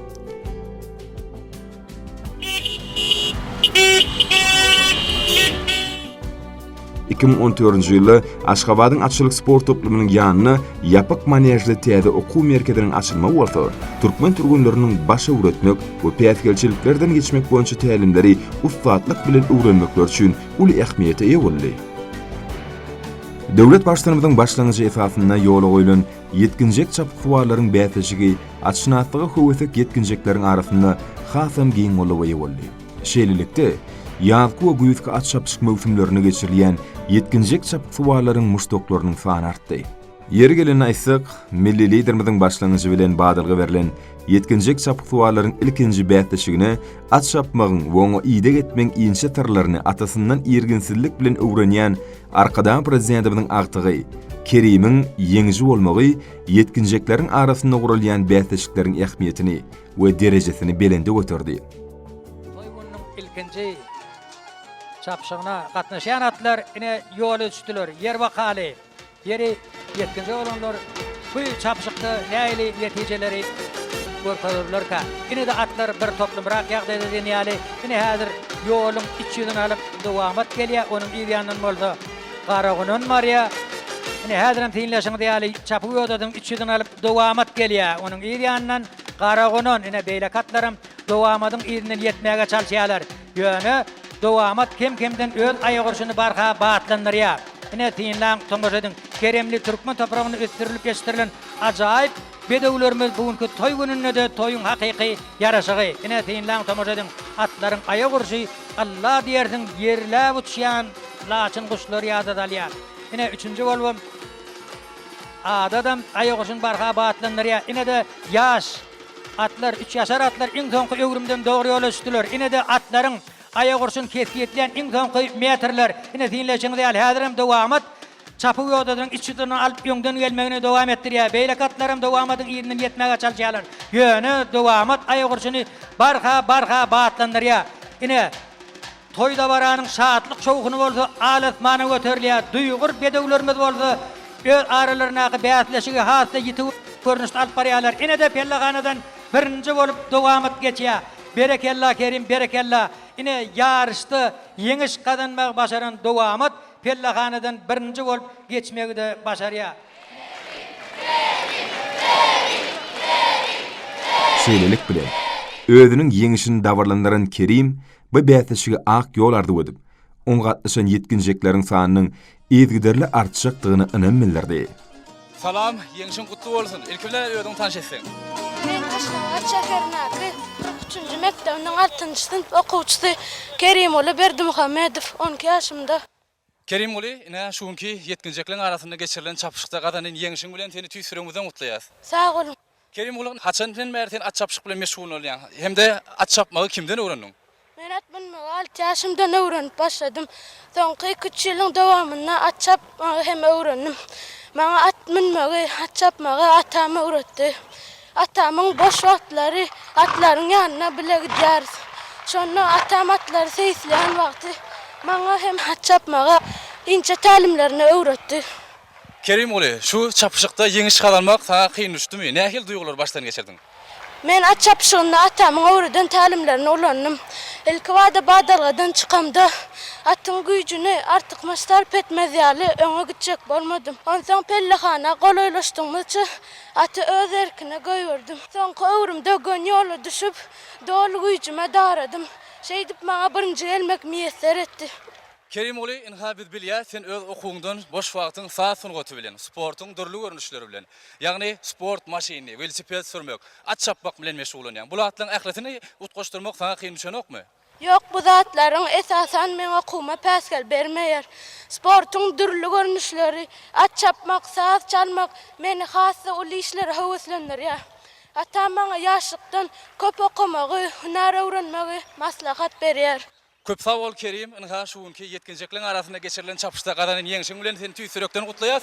Iki müň on dördünji ýylda Aşgabadyň atçylyk sport toplumynyň ýanyna ýapyk manežli täze okuw merkeziniň açylmagy bolsa türkmen türgenleriniň baş öwretmek we päsgelçiliklerden geçmek boýunça tälimleri ussatlyk bilen öwrenmekleri üçin uly ähmiýete eýe boldy. Döwlet Baştutanymyzyň başlangyjy esasynda ýola goýlan ýetginjek çapyksuwarlaryň bäsleşigi atşynaslyga höwesek ýetginjekleriň arasynda hasam giň goldawa eýe boldy. Şeýlelikde, ýazky we güýzki at çapyşyk möwsümlerinde geçirilýän ýetginjek çapyksuwarlaryň muşdaklarynyň sany artdy. Ýeri gelende aýtsak, milli Liderimiziň başlangyjy bilen badalga berlen ýetginjek çapyksuwarlaryň ilkinji bäsleşigine at çapmagyň we oňa ideg etmegiň inçe syrlaryny atasyndan irginsizlik bilen öwrenýän Arkadag Prezidentimiziň agtygy Kerimiň ýeňiji bolmagy ýetginjekleriň arasynda guralýan bäsleşikleriň ähmiýetini we derejesini belende göterdi. Toý gününiň ilkinji çapyşygyna gatnaşýan atlar ine ýola düşdüler. Ýer wakaly. Ýeri ýetginje bolanlar bu çapyşykda nähili netijeleri görkezerlerkä? Ine-de atlar bir toplumrak ýagdaýda diýen ýaly, ine häzir ýoluň iç ýüzüni alyp Dowamat gelýär, onuň yz ýanyndan bolsa Garagunan barýar. Ine häzirem synlaşyňyz ýaly Çapygodadyň iç ýüzüni alyp Dowamat gelýär, onuň yz ýanyndan Garagunan, ine beýleki atlaram Dowamadyň yzyndan ýetmäge çalyşýarlar. Ýöne dowamat kem-kemden öz aýagurşuny barha batlandyrýar. Ine, synlaň, tomaşa ediň, keremli türkmen topragynda ösdürilip ýetişdirilen ajaýyp bedewlerimiz bu günki toý gününde-de toýuň hakyky ýaraşygy. Ine, synlaň, tomaşa ediň, atlaryň aýagurşy Alla diýersiň ýerläp uçýan laçyn guşlary ýada salýar. Ine, üçünji bolubam Adadam aýagurşuny barha batlandyrýar. Ine-de, ýaş. Atlar, üç ýaşar atlar iň soňky öwrümden dogry ýola düşdüler. Ine-de atlaryň aýak urşuny kesgitleýän iň soňky metrler. Ine, synlaýşyňyz ýaly, häzirem Dowamat çapyk ýodadynyň iç ýuduny alyp öňden gelmegini dowam etdirýär. Beýleki atlaram Dowamadyň yzyna ýetmäge çalyşýarlar. Ýöne Dowamat aýak urşuny barha, barha batlandyrýar. Ine. Toý-dabaranyň şatlyk-şowhuny bolsa al-asmana göterilýär, duýgur bedewlerimiz bolsa öz aralaryndaky bäsleşigi has-da ýiti görnüşde alyp barýarlar. Ine-de pellehanadan birinji bolup dowamat geçýär. Berekella Kerim, berekella! Ine, ýaryşda ýeňiş gazanmagy başaran dowamat pellehanadan birinji bolup geçmegi-de başarýar. Şeýlelik bilen, özüniň ýeňişini dabarlandyran Kerim Bu bäsleşige ak ýol arzuw edip, oňa gatnaşan ýetginjekleriň sanynyň yzgiderli artjakdygyna ynam bildirdi. Salam, ýeňşiň gutly bolsun! Ilki bilen özüňi tanyş etseň. Men Aşgabat şäherinäki kyrk üçünji mekdebiniň altynjy synp okuwçysy Kerimguly Berdimuhamedow, on iki ýaşymda. Kerimguly, ine, şu günki ýetginjekleriň arasynda geçirilen çapyşykda gazanan ýeňşiň bilen seni tüýs ýüregimizden gutlaýas. Sag boluň. Kerimguly, haçandan bäri sen at çapyşyk bilen meşgul bolýaň hem-de at çapmagy kimden öwrendiň? Men at münmegi alty ýaşymdan öwrenip başladym. Soňky iki-üç ýylyň dowamynda at çapmagy hem öwrendim. Maňa at münmegi, at çapmagy atam öwretdi. Atamyň boş wagtlary atlaryň ýanyna bile gidýäris. Şonda atam atlary seýisleýän wagty maňa hem at çapmagy inçe tälimlerini öwretdi. Kerimguly, şu çapyşykda ýeňiş gazanmak saňa kyn düşdümi? Nähili duýgulary başdan geçirdiň? Men at çapyşygynda atamyň öwreden tälimlerini ulandym. Ilkibada badalgadan çykamda, atyň güýjüni artykmaç sarp etmez ýaly öňe gitjek bolmadym. Onsoň pellehana golaýlaşdygymyzça, Aty öz erkine goýberdim. Soňky öwrüm dögen ýola düşüp, doly güýjüme daradym. Şeýdip maňa birinji gelmek miýesser etdi. Kerimguly, ynha biz bilýäs, sen öz okuwyňdan boş wagtyň saz sungaty bilen, sportuň dürli görnüşleri bilen, ýagny sport maşyny, welosiped sürmek, at çapmak bilen meşgullanýaň. Bu zatlaryň ählisini utgaşdyrmak saňa kyn düşenokmy? Ýok, bu zatlaryň esasan meň okuwyma päsgel bermeýär. Sportuň dürli görnüşleri, at çapmak, saz çalmak meni has-da uly işlere höweslendirýär. Atam maňa ýaşlykdan köp okamagy, hünär öwrenmegi maslahat berýär. Köp sag bol Kerim, ynha şu günki ýetginjekleň arasynda geçirilen çapyşda gazanan ýeňşiň bilen seni tüýs ýürekden gutlaýas.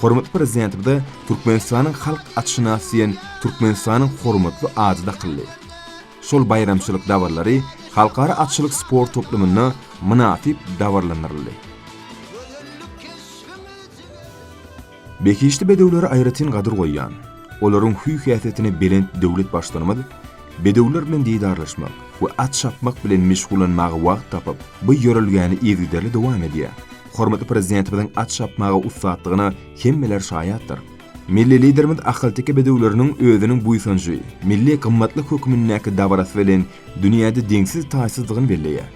Hormatly Prezidentimize Türkmenistanyň halk atşynasy diýen Türkmenistanyň hormatly ady dakyldy. Şol baýramçylyk dabarlary halkara atçylyk sport toplumynda mynasyp dabaralandyryldy. Behişdi bedewlere aýratyn gadyr goýýan, olaryň hüý-häsiýetine belent döwlet Baştutanymyz bedewler bilen didarlaşmak we at çapmak bilen meşgullanmaga wagt tapyp, bu ýörelgäni yzygiderli dowam edýär. Hormatly Prezidentimiziň at çapmaga ussatdygyna hemmeler şaýatdyr. Milli Liderimiz ahalteke bedewleriniň özüniň buýsanjy, milli gymmatlyk hökmündäki dabarasy bilen dünýäde deňsiz-taýsyzdygyny belleýär.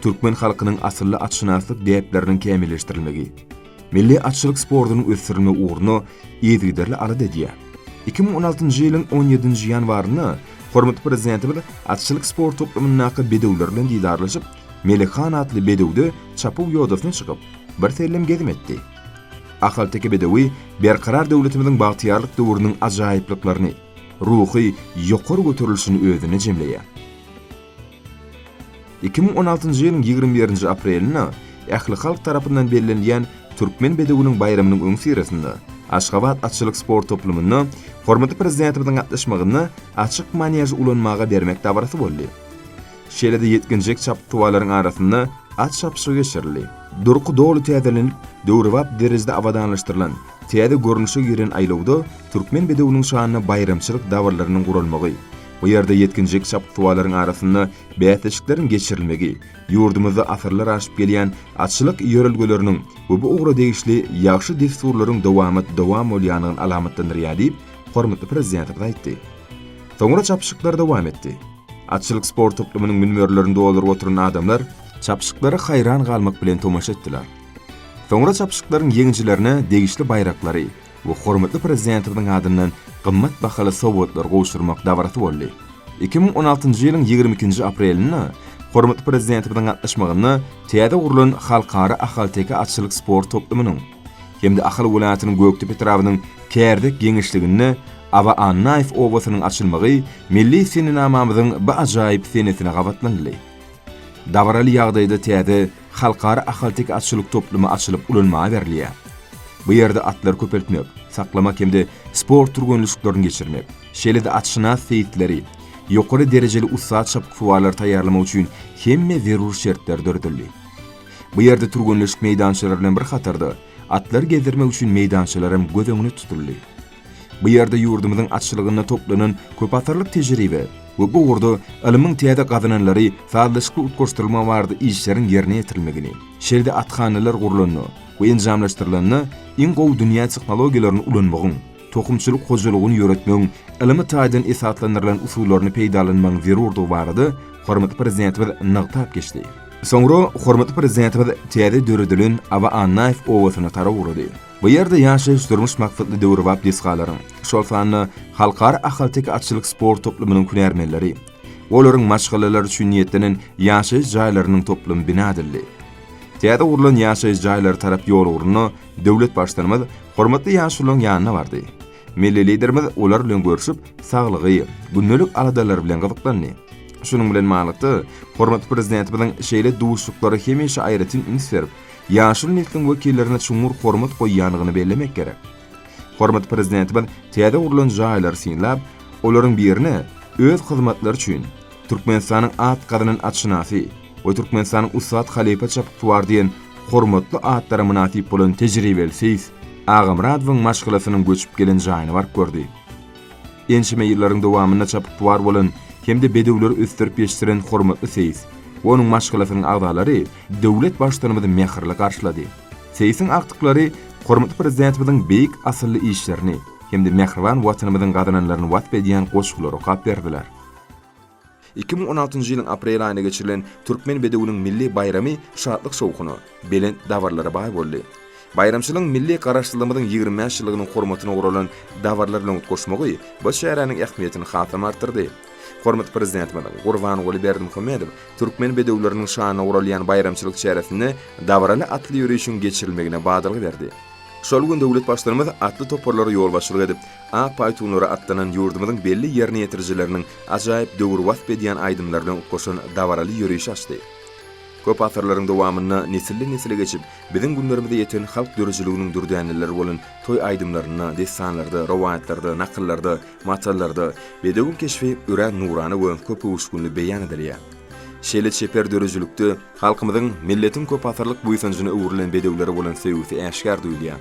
Türkmen halkynyň asylly atşynaslyk däpleriniň kämilleşdirilmegi, milli atçylyk sportunyň ösdürilmegi ugrunda yzygiderli alada edýär. Iki müň on altynjy ýylyň on ýedinji ýanwarynda hormatly Prezidentimiz atçylyk sport toplumyndaky bedewler bilen didarlaşyp, Melek han atly bedewde çapuw ýodasyna çykyp, birsellem gezim etdi. Ahalteke bedewi Berkarar döwletimiziň bagtyýarlyk döwrüniň ajaýyplyklaryny, ruhy ýokary göterilişini özünde jemleýär. Iki müň on altynjy ýylyň ýigrimi birinji aprelinde ählihalk tarapyndan bellenilýän Türkmen bedewiniň baýramynyň öňüsyrasynda Aşgabat atçylyk sport toplumynda hormatly Prezidentimiziň gatnaşmagynda açyk maneži ulanmaga bermek dabarasy boldy. Şeýle-de ýetginjek çapyksuwarlaryň arasynda at çapyşygy geçirildi. Durky doly täzelenip, döwrebap derejede abadanlaşdyrylan, täze görnüşe giren aýlawda türkmen bedewiniň şanyna baýramçylyk dabaralyrynyň guralmagy, bu ýerde ýetginjek çapyksuwarlaryň arasynda bäsleşikleriň geçirilmegi ýurdumyzda asyrlar aşyp gelýän atçylyk ýörelgeleriniň we bu ugra degişli ýagşy dessurlaryň dowamat dowam bolýandygyny alamatlandyrýar diýip, hormatly Prezidentimiz aýtdy. Soňra çapyşyklar dowam etdi. Atçylyk sport toplumynyň münberlerini dolduryp oturan adamlar çapyşyklara haýran galmak bilen tomaşa etdiler. Soňra çapyşyklaryň ýeňijilerine degişli baýraklary we hormatly Prezidentimiziň adyndan gymmat bahaly sowgatlar gowşurmak dabarasy boldy. Iki müň on altynjy ýylyň ýigrimi ikinji aprelinde hormatly Prezidentimiziň gatnaşmagynda täze gurlan Halkara ahalteke atçylyk sport toplumynyň, hem-de Ahal welaýatynyň Gökdepe etrabynyň Kärdek geňeşliginde Aba Annaýew obasynyň açylmagy milli senenamamyzyň bu ajaýyp senesine gabatlanyldy. Dabaraly ýagdaýda täze Halkara ahalteke atçylyk toplumy açylyp ulanmaga berilýär. Bu ýerde atlary köpeltmek, saklamak hem-de sport türgenleşiklerini geçirmek, şeýle-de atşynas seýisleri, ýokary derejeli ussat çapyksuwarlary taýýarlamak üçin hemme zerur şertler döredildi. Bu ýerde türgenleşik meýdançalary bilen bir hatarda, atlary gezdirmek üçin meýdançalar hem göz öňünde tutuldy. Bu ýerde ýurdumyzyň atçylygynda toplanan köpasyrlyk tejribe we bu ugurda ylmyň täze gazananlary sazlaşykly utgaşdyrylmagy barada işleriň ýerine ýetirilmegini, şeýle-de athanalar gurlanda we enjamlaşdyrylanda iň gowy dünýä tehnologiýalaryny ulanmagyň, tohumçylyk hojalygyny ýöretmegiň ylmy taýdan esaslandyrylan usullaryny peýdalanmagyň zerurdygy barada hormatly Prezidentimiz nygtap geçdi. Soňra hormatly Prezidentimiz täze döredilen Aba Annaýew obasyna tarap ugrady. Bu ýerde ýaşaýyş-durmuş maksatly döwrebap desgalaryň, şol sanda Halkara ahalteke atçylyk sport toplumynyň hünärmenleri, olaryň maşgalalary üçin niýetlenen ýaşaýyş jaýlarynyň toplumy bina edildi. Täze gurlan ýaşaýyş jaýlary tarap ýol ugrunda Döwlet Baştutanymyz hormatly ýaşulyň ýanyna bardy. Milli Liderimiz olar bilen görşüp, saglygy, gündelik aladalary bilen gyzyklandy. Şunuň bilen ballykda, hormatly Prezidentimiziň şeýle duşuşyklara hemişe aýratyn üns berip, ýaşuly nesliň wekillerine çuňňur hormat goýýandygyny bellemek gerek. Hormatly Prezidentimiz täze gurlan jaýlary synlap, olaryň birine öz hyzmatlary üçin Türkmenistanyň at gazanan atşynasy, we Türkmenistanyň ussat halypa çapyksuwary diýen hormatly atlara mynasyp bolan tejribeli seýis Agamyradowyň maşgalasynyň göçüp gelen jaýyna baryp gördi. Ençeme ýyllaryň dowamynda çapyksuwar bolan hem-de bedewleri ösdürip ýetişdiren hormatly seýis we onuň maşgalasynyň agzalary döwlet Baştutanymyzy mähirli garşylady. Seýisiň agtyklary hormatly Prezidentimiziň beýik asylly işlerini hem-de mähriban Watanymyzyň gazananlaryny wasp edýän goşgulary okap berdiler. Iki müň on altynjy ýylyň aprel aýynda geçirilen Türkmen bedewiniň milli baýramy şatlyk-şowhuna, belent dabaralara baý boldy. Baýramçylygyň milli Garaşsyzlygymyzyň ýigrimi bäş ýyllygynyň hormatyna guralan dabaralar bilen utgaşmagy bu çäräniň ähmiýetini hasam artdyrdy. Hormatly Prezidentimiz Gurbanguly Berdimuhamedow türkmen bedewleriniň şanyna guralýan baýramçylyk çäresinde dabaraly atly ýörişiň geçirilmegine badalga berdi. Şol gün döwlet Baştutanymyz atly toparlara ýolbaşçylyk edip, Ak paýtunlara atlanan ýurdumyzyň belli ýerine ýetirijileriniň ajaýyp döwri wasp edýän aýdymlar bilen utgaşan dabaraly ýörişi açdy. Köp asyrlaryň dowamynda nesilden-nesle geçip, biziň günlerimize ýeten halk döredijiliginiň dürdäneleri bolan toý aýdymlarynda, dessanlarda, rowaýatlarda, nakyllarda, matallarda bedewiň keşbi örän nurana we köpöwüşginli beýan edilýär. Şeýle çeper döredijilikde halkymyzyň, milletiň köpasyrlyk buýsanjyna öwrülen bedewlere bolan söýgüsi äşgär duýulýar.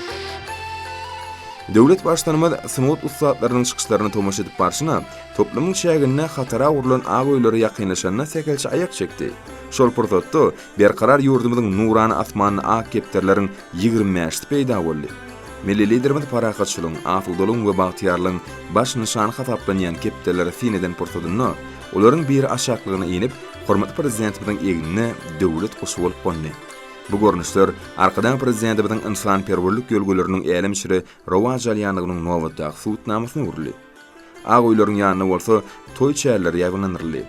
Döwlet Baştutanymyz sungat ussatlarynyň çykyşlaryna tomaşa edip barşyna, toplumyň çäginde hatara gurlan ak öýlere ýakynlaşanda sähelçe aýak çekdi. Şol pursatda berkarar ýurdumyzyň nurana asmanynda ak kepderileriň ýigrimi bäşisi peýda boldy. Milli Liderimiz parahatçylygyň, asudalygyň we bagtyýarlygyň baş nyşany hasaplanýan kepderilere syn eden pursatynda, olaryň biri aşaklygyna inip, hormatly Prezidentimiziň egnine döwlet guşy bolup gondy. Bu görnüşler Arkadag Prezidentimiziň ynsanperwerlik ýörelgeleriniň älemşiri rowaç alýandygynyň nobatdaky subutnamasyna öwrüldi. Ak öýleriň ýanynda bolsa toý çärleri ýaýbaňlandyryldy.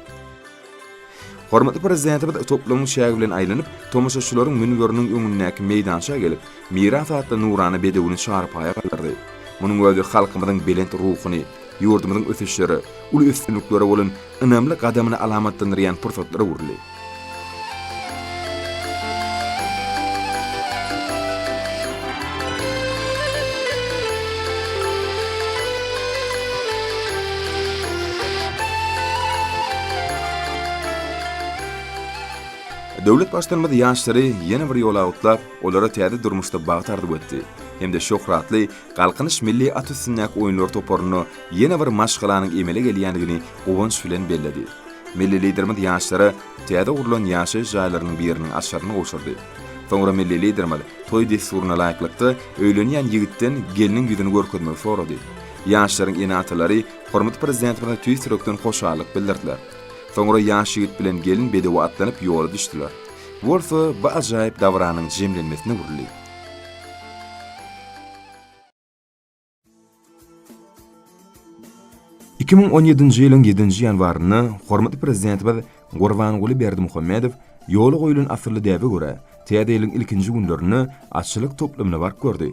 Hormatly Prezidentimiz toplumyň çägi bilen aýlanyp, tomaşaçylaryň münberiniň öňündäki meýdança gelip, Miras atly nurana bedewini çarpaýa galdyrdy. Munuň özi halkymyzyň belent ruhuny, ýurdumyzyň ösüşlere, uly üstünliklere bolan ynamly gadamyny alamatlandyrýan pursatlara öwrüldi. Döwlet Baştutanymyz ýaşlary ýene bir ýola gutlap, olara täze durmuşda bagt arzuw etdi hem-de şöhratly Galkynyş milli at üstündäki oýunlar toparyna ýene bir maşgalanyň emele gelýändigini guwanç bilen belledi. Milli Liderimiz ýaşlara täze gurlan ýaşaýyş jaýlarynyň biriniň açaryny gowşurdy. Soňra milli Liderimiz toý dessuryna laýyklykda öýlenýän ýigitden gelniň ýüzüni görkezmegi sorady. Ýaşlaryň ene-atalary hormatly Prezidentimize tüýs ýürekden hoşallyk bildirdiler. Soňra ýaş ýigit bilen gelin bedewe atlanyp ýola düşdüler. Bu bolsa bu ajaýyp dabyranyň jemlenmesine öwrüldi. Iki müň on ýedinji ýylyň ýedinji ýanwarynda hormatly Prezidentimiz Gurbanguly Berdimuhamedow ýola goýlan asylly däbe görä, Täze ýylyň ilkinji günlerinde atçylyk toplumyny bark gördi.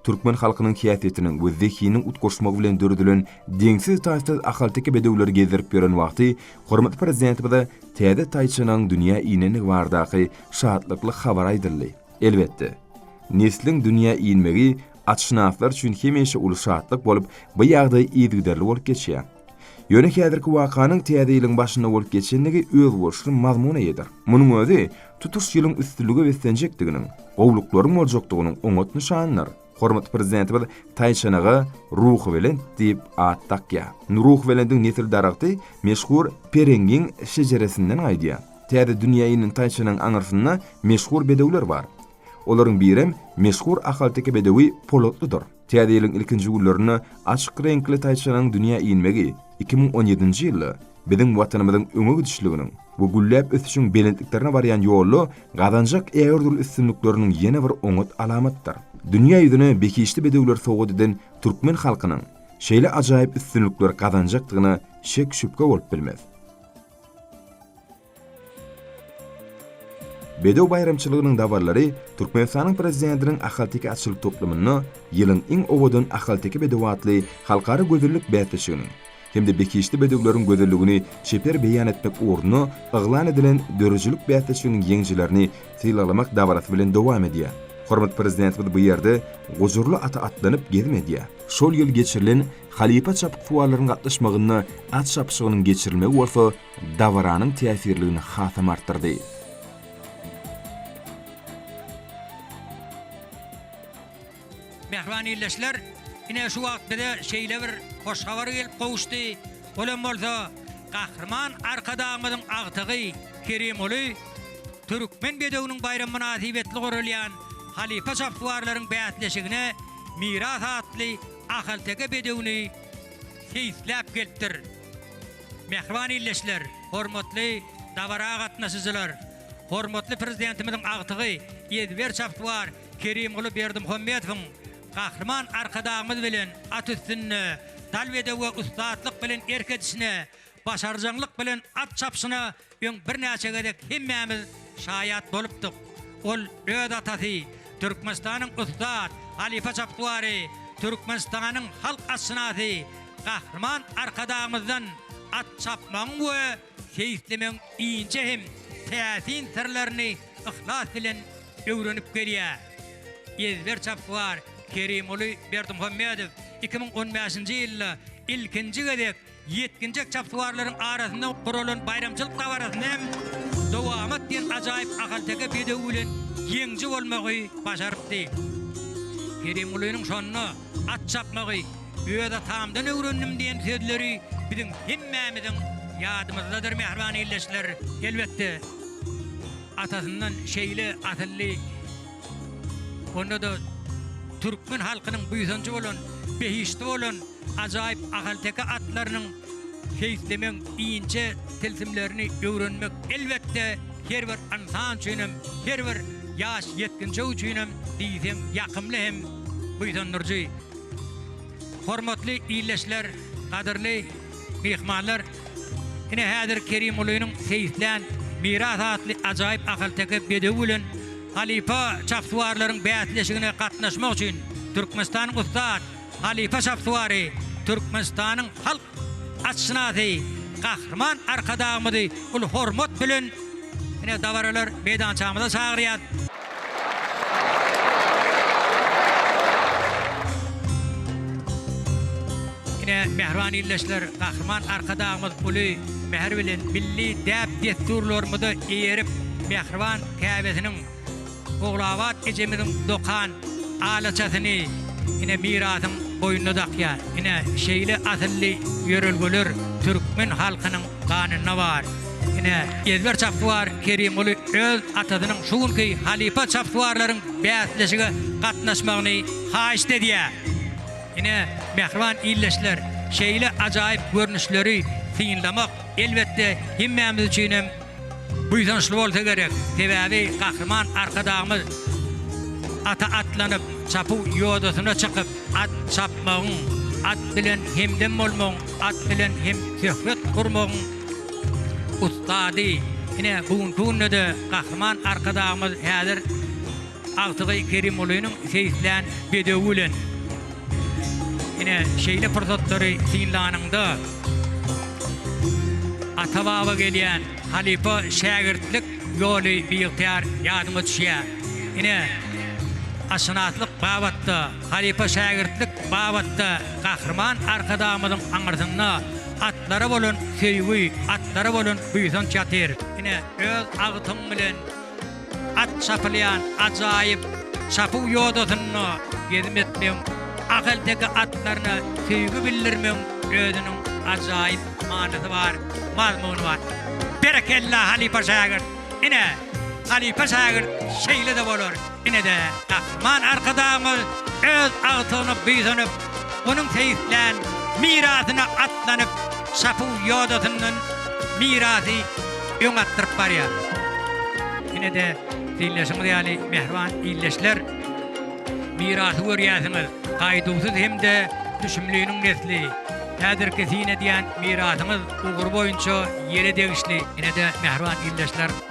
Türkmen halkynyň häsiýetiniň we zehiniň utgaşmagy bilen döredilen deňsiz-taýsyz ahalteke bedewleri gezdirip ýören wagty hormatly Prezidentimize täze taýçanyň dünýä inendigi baradaky şatlykly habar aýdyldy. Elbetde, nesliň dünýä inmegi atşynaslar üçin hemişe uly şatlyk bolup, bu ýagdaý yzygiderli bolup geçýär. Ýöne häzirki wakanyň täze ýylyň başynda bolup geçendigi özboluşly mazmun eýedir. Munuň özi tutuş ýylyň üstünlige beslenjekdiginiň, gowluklaryň boljakdygynyň oňat nyşanydyr. Hormatly Prezidentimiz taýçanaga Ruhubelent diýip at dakýar. Ruhubelendiň nesil daragty meşhur Perengiň şejeresinden gaýdýar. Täze dünýä inen taýçanyň aňyrsynda meşhur bedewler bar. Olaryň birem meşhur ahalteke bedewi Polatlydyr. Täze ýylyň ilkinji günlerinde açyk reňkli taýçanyň dünýä inmegi iki müň on ýedinji ýylda Biziň Watanymyzyň öňe gidişliginiň we gülläp ösüşiň belentliklerine barýan ýolda gazanjak ägirdürli üstünlikleriniň ýene bir oňat alamatydyr. Dünýä ýüzüne behişdi bedewleri sowgat eden türkmen halkynyň şeýle ajaýyp üstünlikleri gazanjakdygyna şek-şübhe bolup bilmez. Bedew baýramçylygynyň dabaralary Türkmenistanyň Prezidentiniň ahalteke atçylyk toplumynda Ýylyň iň owadan ahalteke bedewi atly halkara gözellik bäsleşiginiň hem-de Behişdi bedewleriň gözelligini çeper beýan etmek ugrunda yglan edilen döredijilik bäsleşiginiň ýeňijilerini sylaglamak dabarasy bilen dowam edýär. Hormatly Prezidentimiz bu ýerde gujurly ata atlanyp gezim edýär. Şol ýyl geçirilen halypa çapyksuwarlaryň gatnaşmagynda at çapyşygynyň geçirilmegi bolsa dabaranyň täsirligini hasam artdyrdy. Mähriban ildeşler, ine şu wagt bize şeýle bir hoş habar gelip gowuşdy. Ol hem bolsa Gahryman Arkadagymyzyň agtygy Kerimoly Türkmen bedewiniň baýramy mynasybetli guralýan halypa şaptuwarlaryň bäsleşigine Miras atly ahalteke bedewini seýisläp gelipdir. Mähriban ildeşler, hormatly dabara gatnaşyjylar! Hormatly Prezidentimiziň agtygy ezber çapyksuwar Kerimguly Berdimuhamedowyň Gahryman Arkadagymyz bilen at üstünde, dal bedewe ussatlyk bilen erk edişine, başarjaňlyk bilen at çapyşyna Öň birnäçe gezek hemmämiz şaýat bolupdyk. Ol öz atasy, Türkmenistanyň ussat halypa çapyksuwary, Türkmenistanyň halk atşynasy Gahryman Arkadagymyzdan at çapmagyň we seýislemegiň inçe hem täsin syrlaryny yhlas bilen öwrenip gelýär. Ezber çapyksuwar Kerimguly Berdimuhamedow iki müň on bäşinji ýylda ilkinji gezek Ýetginjek çapyksuwarlaryň arasynda guralan baýramçylyk dabarasynda hem Dowamat diýen ajaýyp ahalteke bedew bilen ýeňiji bolmagy başarypdy. Kerimgulynyň şonda at çapmagy öz atamdan öwrendim diýen sözleri biziň hemmämiziň ýadymyzdadyr, mähriban ildeşler. Elbetde, atasyndan şeýle asylly, onda-da türkmen halkynyň buýsanjy bolan, behişdi bolan. Ajaýyp ahalteke atlarynyň seýislemegiň inçe tilsimlerini öwrenmek, elbetde, her bir ynsan üçin hem, her bir ýaş ýetginjek üçin hem diýseň ýakymly hem buýsandyryjy. Hormatly ildeşler, gadyrly myhmanlar! Ine, häzir Kerimgulynyň seýislän Miras atly ajaýyp ahalteke bedewi bilen halypa çapsuwarlaryň bäsleşigine gatnaşmak üçin Türkmenistanyň ussat, Halypa Şahsuwary Türkmenistanyň halk atşynasy Gahryman Arkadagymyzy uly hormat bilen ine dabaralar meýdançamyza çagyrýas. Ine, mähriban ildeşler, Gahryman Arkadagymyz uly mähir bilen milli däp-dessurlarymyza eýerip, mähriban käbesiniň, Ogulabat ejemiziň dokan alaçasyny ine mirasyň boýnuna dakýar. Ine şeýle asylly ýörelgeler türkmen halkynyň ganynda bar. Ine ezber çapswar Kerimguly öz atasynyň şu günki halypa çapswarlaryň bäsleşige gatnaşmagyny haýyşt edýär. Ine mähriban ildeşler şeýle ajaýyp görnüşleri synlamak elbetde hemmämiz üçinem Buýsançly bolsa gerek, sebäbi Gahryman Arkadagymyz ata atlanyp, çapuw ýodasyna çykyp, at çapmagyň, at bilen hemdem bolmagyň, at bilen hem söhbet gurmagyň ussady. Ine, bu günki günde-de Gahryman Arkadagymyz häzir. Agtygy Kerimgulynyň seýislän bedewi bilen ine, şeýle pursatlary synlanyňda, ata-baba gelýän halypa-şägirtlik ýoly biygtyýar ýadyňa düşýär. Ine, atşynaslyk babatda, halypa-şägirtlik babatda Gahryman Arkadagymyzyň aňyrsynda atlara bolan söýgi, atlara bolan buýsanç ýatyr. Ine, öz agtyň bilen At çapylýan ajaýyp çapuw ýodasynda gezim etmegiň, ahalteke atlaryna söýgi bildirmegiň özüniň ajaýyp manysy bar, mazmuny bar. Berekella halypa şägirt! Ine, halypa şägirt şeýle-de bolar. Ine-de, Gahryman Arkadagymyz öz agtygyna buýsanyp, onuň seýislän mirasyna atlanyp, şapuw ýodasyndan mirasy öň atdyryp barýar. Ine-de, diýleşiňiz ýaly, mähriban ildeşler, mirasy görýärsiňiz, Gaýduwsyz hem-de Düşümliniň nesli. Häzirki syn edýän mirasyňyz ugry boýunça ýele degişli. Ine-de, mähriban ildeşler.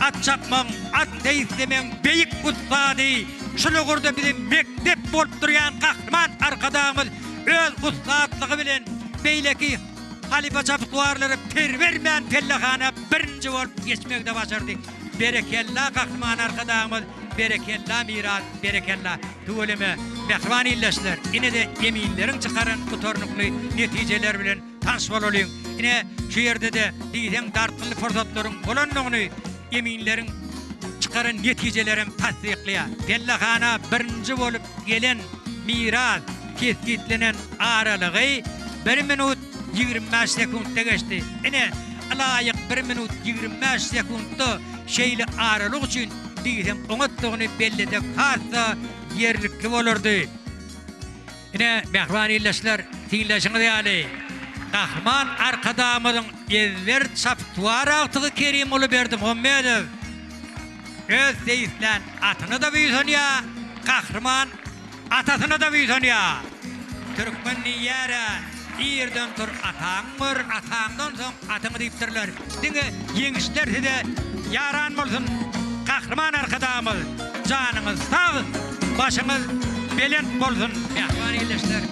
At çapmagyň, at seýislemegiň beýik ussady, şol ugurda bize mekdep bolup durýan Gahryman Arkadagymyz öz ussatlygy bilen beýleki halypaçapyksuwarlara per bermän pellehana birinji bolup geçmegide başardy. Berekella Gahryman Arkadagymyz, berekella miras, berekella. Tüweleme, mähriban ildeşler, ine-de eminleriň çykaran gutarnykly netijeleri bilen Tans bolalyň! Ine, şu ýerde-de diýseň dartgynly pursatlaryň bolandygyny eminleriň çykaran netijelerem tassyklaýar. Pellehana birinji bolup gelen Miraz kesgitlenen aralygy bir minut ýigrimi bäş sekuntda geçdi. Ine, ylaýyk bir minut ýigrimi bäş sekuntda şeýle aralyk üçin diýseň oňatdygyny belleseň has-da ýerlikli bolardy. Ine, mähriban ildeşler, synlaýşyňyz ýaly, Gahryman Arkadagymyzyň ezber çapyksuwar agtygy Kerimguly Berdimuhamedow öz seýislän atyna-da buýsanýar, Gahryman atasyna-da buýsanýar. Türkmen diýýär-ä. Irden tur ataňy gör ataňdan soň atyňy diýipdirler. Diňe ýeňişler size ýaran bolsun Gahryman Arkadagymyz janyňyz sag başyňyz belent bolsun Mähriban ildeşler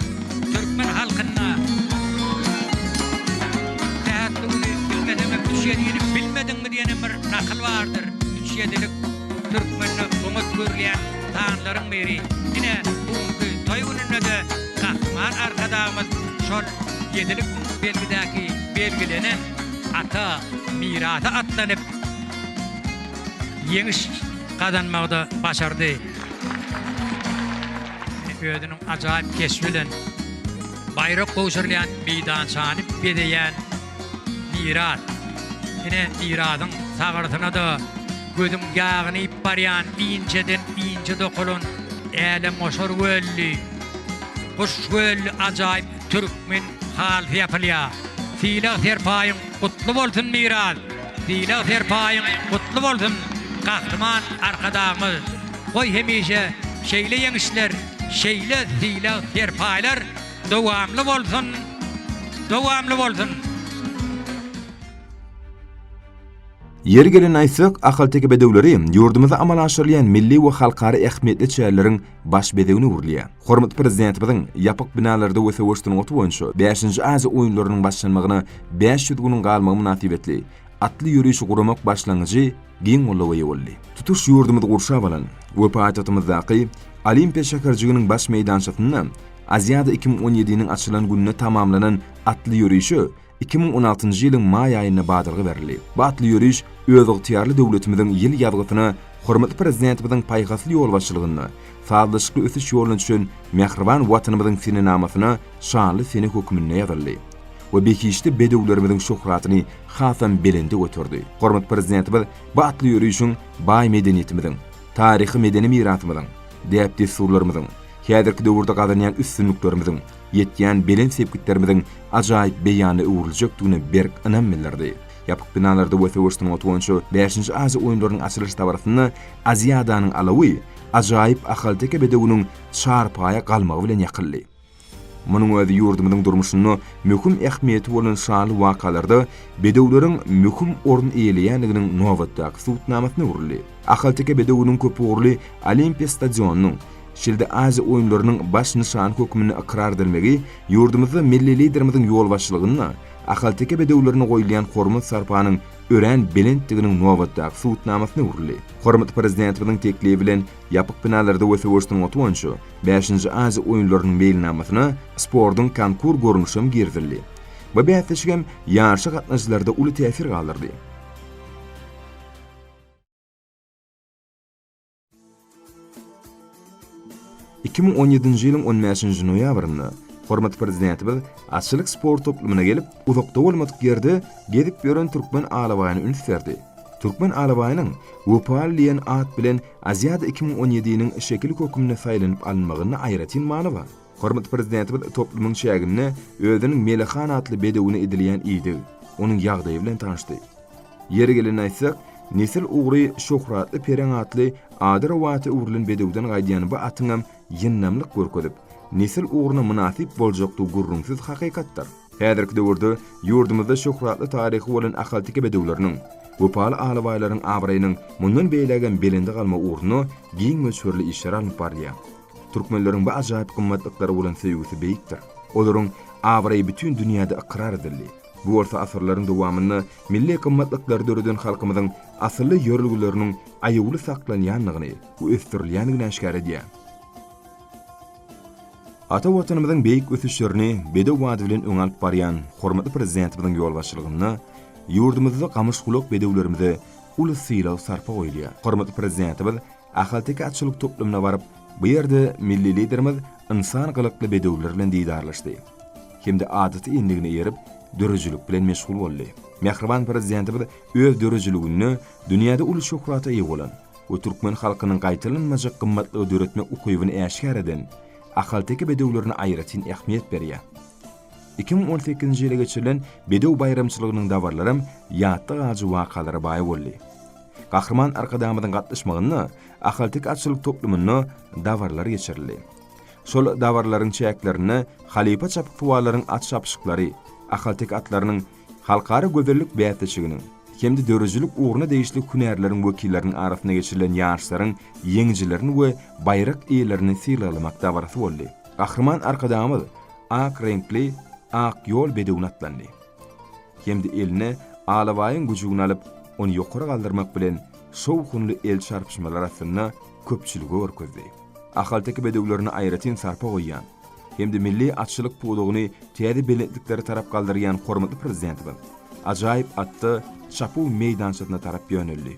Türkmen halkyna Sähetli güni bilmeseňem üç ýedini bilmediňmi diýen hem bir nakyl bardyr üç ýedilik Türkmende oňat görülýän sanlaryň biri. Ine, bu günki toý gününde-de Gahryman Arkadagymyz şol ýedilik belgidäki belgilenen ata mirasy atlanyp, ýeňiş gazanmagy-da başardy. Özüniň ajaýyp keşbi bilen baýrak gowşurylýan meýdançany bezeýän Myrat, ine, Myradyň sagyrsyna-da gözüň ýagynyp barýan inçeden inçe dokalan älemgoşar gölli, guş gölli ajaýyp türkmen halysy ýapylýar. Sylag-serpaýyň gutly bolsun, Myrat! Sylag-serpaýyň gutly bolsun, Gahryman Arkadagymyz! Goý, hemişe şeýle ýeňişler, şeýle sylag-serpaýlar Dowamly bolsun Dowamly bolsun. Ýeri gelende aýtsak, ahalteke bedewleri ýurdumyzda amala aşyrylýan milli we halkara ähmiýetli çäreleriň baş bezegine öwrülýär. Hormatly Prezidentimiziň ýapyk binalarda we söweş sungaty boýunça bäşinji Aziýa oýunlarynyň başlanmagyna bäş ýüz günüň galmagy mynasybetli atly ýörişi guramak başlangyjy giň goldawa eýe boldy. Tutuş ýurdumyzy gurşap alan we paýtagtymyzdaky Olimpiýa şäherjiginiň baş meýdançasynda Aziada iki müň on ýediniň açylan gününe tamamlanan atly ýörişe iki müň on altynjy ýylyň maý aýynda badalga berildi. Bu atly ýöriş özygtyýarly döwletimiziň ýyl ýazgysyna hormatly Prezidentimiziň paýhasly ýolbaşçylygynda sazlaşykly ösüş ýoluna düşen mähriban Watanymyzyň senenamasyna şanly sene hökmünde ýazyldy we behişdi bedewlerimiziň şöhratyny hasam belende göterdi. Hormatly Prezidentimiz bu atly ýörişiň baý medeniýetimiziň, taryhy-medeni mirasymyzyň, däp-dessurlarymyzyň, häzirki döwürde gazanýan üstünliklerimiziň, ýetýän belent sepgitlerimiziň ajaýyp beýanyna öwrüljekdigine berk ynam bildirdi. Ýapyk binalarda we söweş sungaty boýunça bäşinji Aziýa oýunlarynyň açylyş dabarasynda Aziadanyň alawy ajaýyp ahalteke bedewiniň çarpaýa galmagy bilen ýakyldy. Munuň özi ýurdumyzyň durmuşynda möhüm ähmiýeti bolan şanly wakalarda bedewleriň möhüm orun eýeleýändiginiň nobatdaky subutnamasyna öwrüldi. Ahalteke bedewiniň köpugurly Olimpiýa stadionynyň, Şeýle-de Aziýa oýunlarynyň baş nyşany hökmünde ykrar edilmegi ýurdumyzda milli Liderimiziň ýolbaşçylygynda ahalteke bedewlerine goýulýan hormat-sarpanyň örän belentdiginiň nobatdaky subutnamasyna öwrüldi. Hormatly Prezidentimiziň teklibi bilen ýapyk binalarda we söweş sungaty boýunça bäşinji Aziýa oýunlarynyň meýilnamasyna sportuň konkur görnüşi hem girizildi. Bu bäsleşik hem ýaryşa gatnaşyjylarda uly täsir galdyrdy. Iki müň on ýedinji ýylyň on bäşinji noýabrynda hormatly Prezidentimiz atçylyk sport toplumyna gelip, uzakda bolmadyk ýerde gezip ýören türkmen alabaýyna üns berdi. Türkmen alabaýynyň Wepaly diýen at bilen Aziada iki müň on ýedi-niň şekili hökmünde saýlanyp alynmagynda aýratyn many bar. Hormatly Prezidentimiz toplumyň çäginde özüniň Melih han atly bedewine edilýän ideg, onuň ýagdaýy bilen tanyşdy. Ýeri gelende aýtsak, nesil ugry Şöhratly Pereň atly ady rowata öwrülen bedewden gaýdýan bu atyňam ýyndamlyk görkezip, nesil ugruna mynasyp boljakdygy gürrüňsiz hakykatdyr. Häzirki döwürde ýurdumyzda şöhratly taryhy bolan ahalteke bedewleriniň, wepaly alabaýlaryň abraýynyň mundan beýlägem belende galmagy ugrunda giň möçberli işler alnyp barylýar. Türkmenleriň bu ajaýyp gymmatlyklary bolan söýgüsi beýikdir. Olaryň abraýy bütin dünýäde ykrar edildi. Bu bolsa asyrlaryň dowamynda milli gymmatlyklary döreden halkymyzyň asylly ýörelgeleriniň aýawly saklanýandygyny we ösdürilýändigini äşgär edýär. Ata Watanymyzyň beýik ösüşlerini bedew bady bilen öňe alyp barýan hormatly Prezidentimiziň ýolbaşçylygynda ýurdumyzda gamyş-gulak bedewlerimize uly sylag-sarpa goýulýar. Hormatly Prezidentimiz Ahalteke atçylyk toplumyna baryp, bu ýerde milli Liderimiz ynsan gylykly bedewler bilen didarlaşdy hem-de adaty endigine eýerip, döredijilik bilen meşgul boldy. Mähriban Prezidentimiz öz döredijiliginde dünýäde uly şöhrata eýe bolan we türkmen halkynyň gaýtalanmajak gymmatlygy döretmek ukybyny äşgär eden ahalteke bedewlerine aýratyn ähmiýet berýär. Iki müň on sekizinji ýyla geçirilen bedew baýramçylygynyň dabaralaram ýatda galyjy wakalara baý boldy. Gahryman Arkadagymyzyň gatnaşmagynda Ahalteke atçylyk toplumynda dabaralar geçirildi. Şol dabaralaryň çäklerinde halypa çapyksuwarlaryň at çapyşyklary, ahalteke atlarynyň halkara gözellik bäsleşiginiň hem-de döredijilik ugruna degişli hünärleriň wekilleriniň arasynda geçirilen ýaryşlaryň ýeňijilerini we baýrak eýelerini sylaglamak dabarasy boldy. Gahryman Arkadagymyz ak reňkli Ak ýol bedewine atlandy. hem-de eline alabaýyň güjügini alyp, ony ýokary galdyrmak bilen, şowhunly el çarpyşmalar astynda köpçülige görkezdi. Ahalteke bedewlerine aýratyn sarpa goýýan hem-de milli atçylyk pudagyny täze belentliklere tarap galdyrýan hormatly Prezidentimiz ajaýyp atda çapuw meýdançasyna tarap ýöneldi.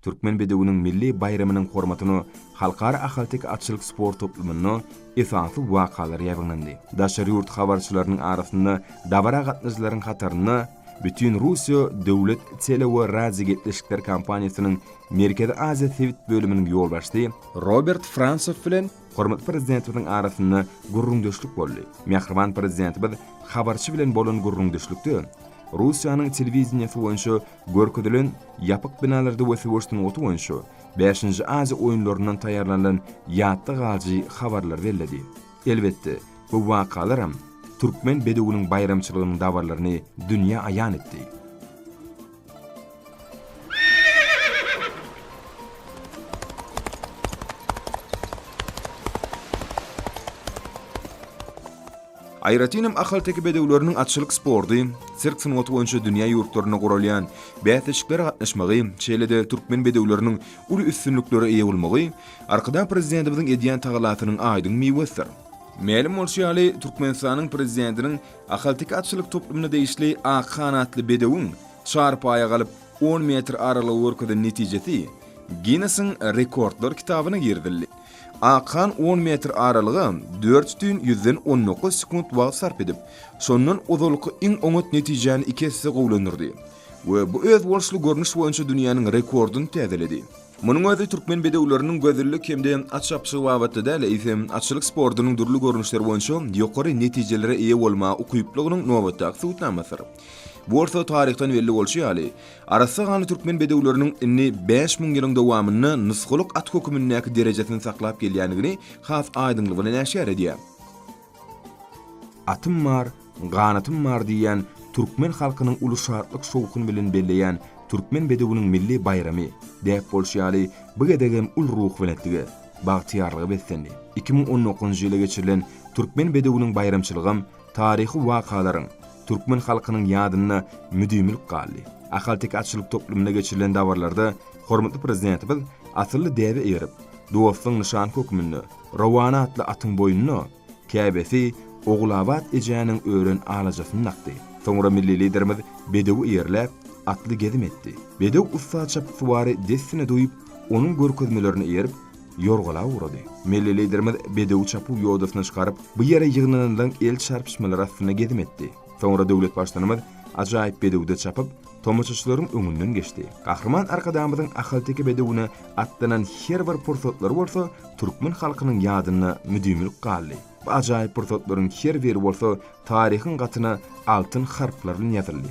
Türkmen bedewiniň milli baýramynyň hormatyna Halkara ahalteke atçylyk sport toplumynda esasy wakalar ýaýbaňlandy. Daşary ýurt habarçylarynyň arasynda dabara gatnaýjylaryň hatarynda Bütinrussiýa döwlet tele we radiogepleşikler kompaniýasynyň Merkezi Aziýa sebit bölüminiň ýolbaşçysy Robert Fransow bilen hormatly Prezidentimiziň arasynda gürrüňdeşlik boldy. Mähriban Prezidentimiz habarçy bilen bolan gürrüňdeşlikde Russiýanyň telewideniýesi boýunça görkezilen ýapyk binalarda we söweş sungaty boýunça Bäşinji Aziýa oýunlaryndan taýýarlanylan ýatda galyjy habarlary belledi. Elbetde, bu wakalaram türkmen bedewiniň baýramçylygynyň dabarlaryny dünýä aýan etdi. Aýratyn hem ahalteke bedewleriniň atçylyk sporty, sirk sungaty boýunça dünýä ýurtlarynda guralýan bäsleşiklere gatnaşmagy, şeýle-de türkmen bedewleriniň uly üstünliklere eýe bolmagy Arkadag Prezidentimiziň edýän tagallasynyň aýdyň miwesidir. Mälim bolşy ýaly, Türkmenistanyň Prezidentiniň ahalteke atçylyk toplumyna degişli ak hanatly bedewiň çarpaýa galyp, on metr aralygy görkezen netijesi Ginnesiň rekordlar kitabyna girizildi. Ak han on metr aralyga dört bütin ýüzden on dokuz sekunt wagt sarp edip, şondan ozalky iň oňat netijäni iki esse gowulandyrdy. we bu özboluşly görnüş boýunça dünýäniň rekordyny täzeledi. Munuň özi türkmen bedewleriniň gözellik hem-de at çapyşygy babatda däl, eýsem, atçylyk sportunyň dürli görnüşleri boýunça ýokary netijelere eýe bolmaga ukyplygynyň nobatdaky subutnamasydyr. Bu bolsa taryhdan belli bolşy ýaly, arassa ganly türkmen bedewleriniň indi bäş müň ýylyň dowamynda nusgalyk at hökümindäki derejesini saklap gelýändigini has aýdyňlygy bilen äşgär edýär. Atym bar, ganatym bar diýýän türkmen halkynyň uly şatlyk-şowhun bilen belleýän Türkmen bedewiniň milli baýramy, däp bolşy ýaly, bu gezegem uly ruhubelentlige, bagtyýarlyga beslendi. Iki müň on dokuzynjy ýyla geçirilen Türkmen bedewiniň baýramçylygam taryhy wakalaryň, türkmen halkynyň ýadynda müdimilik galdy. Ahalteke atçylyk toplumynda geçirilen dabaralarda hormatly Prezidentimiz asylly däbe eýerip, dostlugyň nyşany hökmünde, Rowana atly atyň boýnuna, käbesi Ogulabat ejäniň ören alajasyny dakdy. Soňra milli Liderimiz bedewi eýerläp, atly gezim etdi. Bedew ussat çapyksuwary dessine duýup, onuň görkezmelerine eýerip, ýorgala ugrady. Milli Liderimiz bedewi çapuw ýodasyna çykaryp, bu ýere ýygnananlaň el çarpyşmalary astynda gezim etdi. Soňra döwlet Baştutanymyz ajaýyp bedewde çapyp, tomaşaçylaryň öňünden geçdi. Gahryman Arkadagymyzyň ahalteke bedewine atlanan her bir pursatlary bolsa türkmen halkynyň ýadynda müdimilik galdy. Bu ajaýyp pursatlaryň her biri bolsa taryhyň gatyna altyn harplar bilen ýazyldy.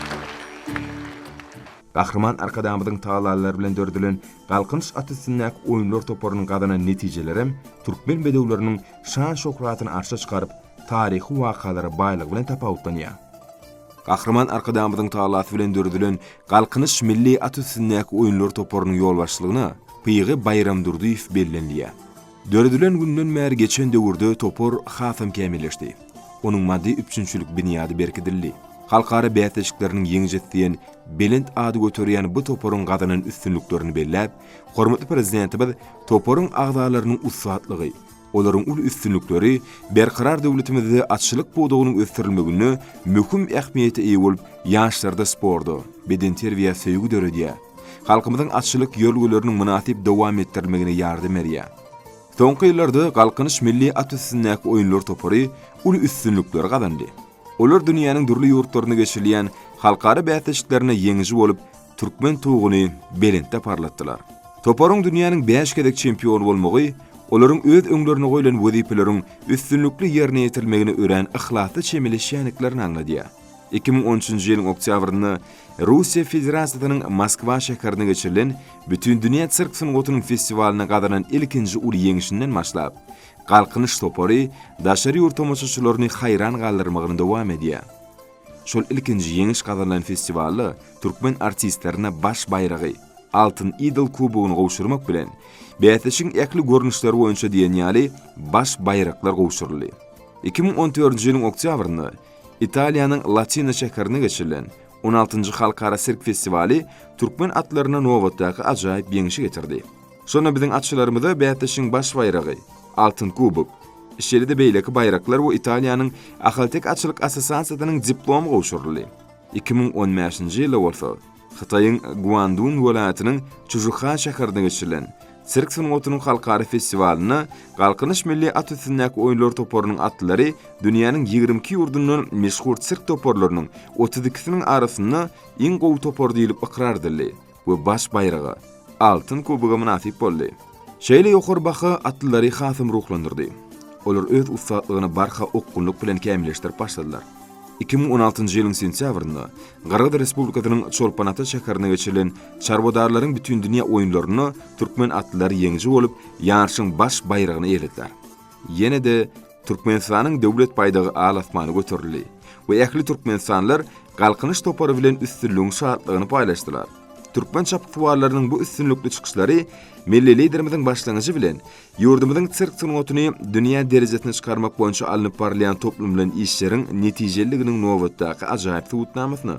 Gahryman Arkadagymyzyň tagallalary bilen döredilen Galkynyş at üstündäki oýunlar toparynyň gazanan netijelerem türkmen bedewleriniň şan-şöhratyny arşa çykaryp, taryhy wakalara baýlygy bilen tapawutlanýar. Gahryman Arkadagymyzyň tagallasy bilen döredilen Galkynyş milli at üstündäki oýunlar toparynyň ýolbaşçylygyna Pygy Baýramdurdyýew bellenilýär. Döredilen günden bäri geçen döwürde topar hasam kämilleşdi. Onuň maddy-üpjünçilik binýady berkidildi. Halkara bäsleşikleriniň ýeňijisi diýen belent ady göterýän bu toparyň gazanan üstünliklerini belläp, hormatly Prezidentimiz toparyň agzalarynyň ussatlygy, olaryň uly üstünlikleri Berkarar döwletimizde atçylyk pudagynyň ösdürilmeginde möhüm ähmiýete eýe bolup, ýaşlarda sporta, bedenterbiýä söýgi döredýär. halkymyzyň atçylyk ýörgüleriniň mynasyp dowam etdirilmegine ýardam berýär. Soňky ýyllarda Galkynyş milli at üstündäki oýunlar topary uly üstünlikleri gazandy. Olar dünýäniň dürli ýurtlarynda geçirilýän halkara bäsleşiklerinde ýeňiji bolup, türkmen tuguny belentde parlatdylar. Toparyň dünýäniň bäş gezek çempiony bolmagy olaryň öz öňlerine goýlan wezipeleriň üstünlikli ýerine ýetirilmegine örän yhlasly çemeleşýändiklerini aňladýar. Iki müň on üçünji ýylyň oktýabrynda Russiýa Federasiýasynyň Moskwa şäherinde geçirilen Bütindünýä sirk sungatynyň festiwalynda gazanan ilkinji uly ýeňişinden başlap, Galkynyş topary daşary ýurt tomaşaçylaryny haýran galdyrmagyny dowam edýär. Şol ilkinji ýeňiş gazanylan festiwalda türkmen artistlerine baş baýragy, Altyn idol kubogyny gowşurmak bilen, bäsleşigiň ähli görnüşleri boýunça diýen ýaly baş baýraklar gowşuryldy. Iki müň on dördünji ýylyň oktýabrynda Italiýanyň Latina şäherinde geçirilen on altynjy halkara sirk festiwaly türkmen atlaryna nobatdaky ajaýyp ýeňşi getirdi. Şonda biziň atçylarymyza bäsleşigiň baş baýragy, Altyn kubok, şeýle-de beýleki baýraklar we Italiýanyň Ahalteke atçylyk assosiasiýasynyň diplomy gowşuryldy. Iki müň on bäşinji ýylda bolsa, Hytaýyň Guandun welaýatynyň Çžuha şäherinde geçirilen Sirk sungatynyň halkara festiwalynda Galkynyş milli at üstündäki oýunlar toparynyň atlary dünýäniň ýigrimi iki ýurdundan meşhur sirk toparlarynyň otuz ikisiniň arasynda iň gowy topar diýlip ykrar edildi we baş baýraga, Altyn kuboga mynasyp boldy. Şeýle ýokary baha atlylary hasam ruhlandyrdy. Olar öz ussatlygyny barha okgunlyk bilen kämilleşdirip başladylar. Iki müň on altynjy ýylyň sentýabrynda Gyrgyz Respublikasynyň Çolpan-Ata şäherinde geçirilen çarwadarlaryň bütindünýä oýunlarynda türkmen atlylary ýeňiji bolup, ýaryşyň baş baýragyny eýelediler. Ýene-de Türkmenistanyň Döwlet baýdagy al-asmana göterildi we ähli türkmenistanlylar Galkynyş topary bilen üstünligiň şatlygyny paýlaşdylar. Türkmen çapyksuwarlarynyň bu üstünlikli çykyşlary milli Liderimiziň başlangyjy bilen ýurdumyzyň sirk sungatyny dünýä derejesine çykarmak boýunça alnyp barylýan toplumlaýyn işleriň netijeliliginiň nobatdaky ajaýyp subutnamasyna,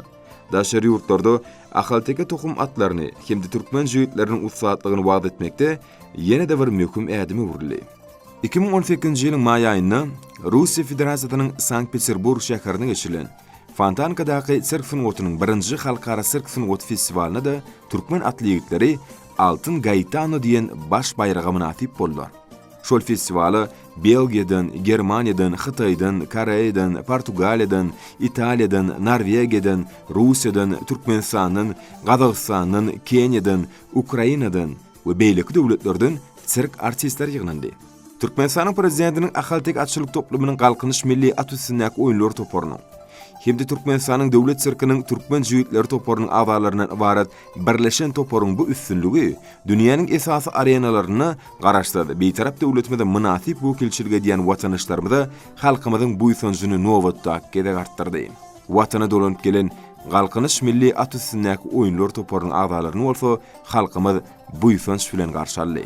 daşary ýurtlarda ahalteke tohum atlaryny hem-de türkmen jübütleriniň ussatlygyny wagyz etmekde ýene-de bir möhüm ädim öwrüldi. Iki müň on sekizinji ýylyň maý aýynda Russiýa Federasiýasynyň Sankt-Peterburg şäherinde geçirilen Fontankadaky sirk sungatynyň birinji halkara sirk sungaty festiwalynda-da türkmen atly ýigitleri Altyn Gaetano diýen baş baýraga mynasyp boldular. Şol festiwala Belgiýadan, Germaniýadan, Hytaýdan, Koreýadan, Portugaliýadan, Italiýadan, Norwegiýadan, Russiýadan, Türkmenistandan, Gazagystandan, Keniýadan, Ukrainadan, we beýleki döwletlerden sirk artistleri ýygnandy. Türkmenistanyň Prezidentiniň Ahalteke atçylyk toplumynyň Galkynyş milli at üstündäki oýunlar toparynyň hem-de Türkmenistanyň Döwlet sirkiniň Türkmen jübütleri toparynyň agzalaryndan ybarat birleşen toparyň bu üstünligi dünýäniň esasy arenalarynda Garaşsyz, Bitarap döwletimize mynasyp wekilçilik edýän watandaşlarymyza halkymyzyň buýsanjyny nobatdaky gezek artdyrdy. Watana dolanyp gelen Galkynyş milli at üstündäki oýunlar toparynyň agzalaryny bolsa halkymyz buýsanç bilen garşy aldy.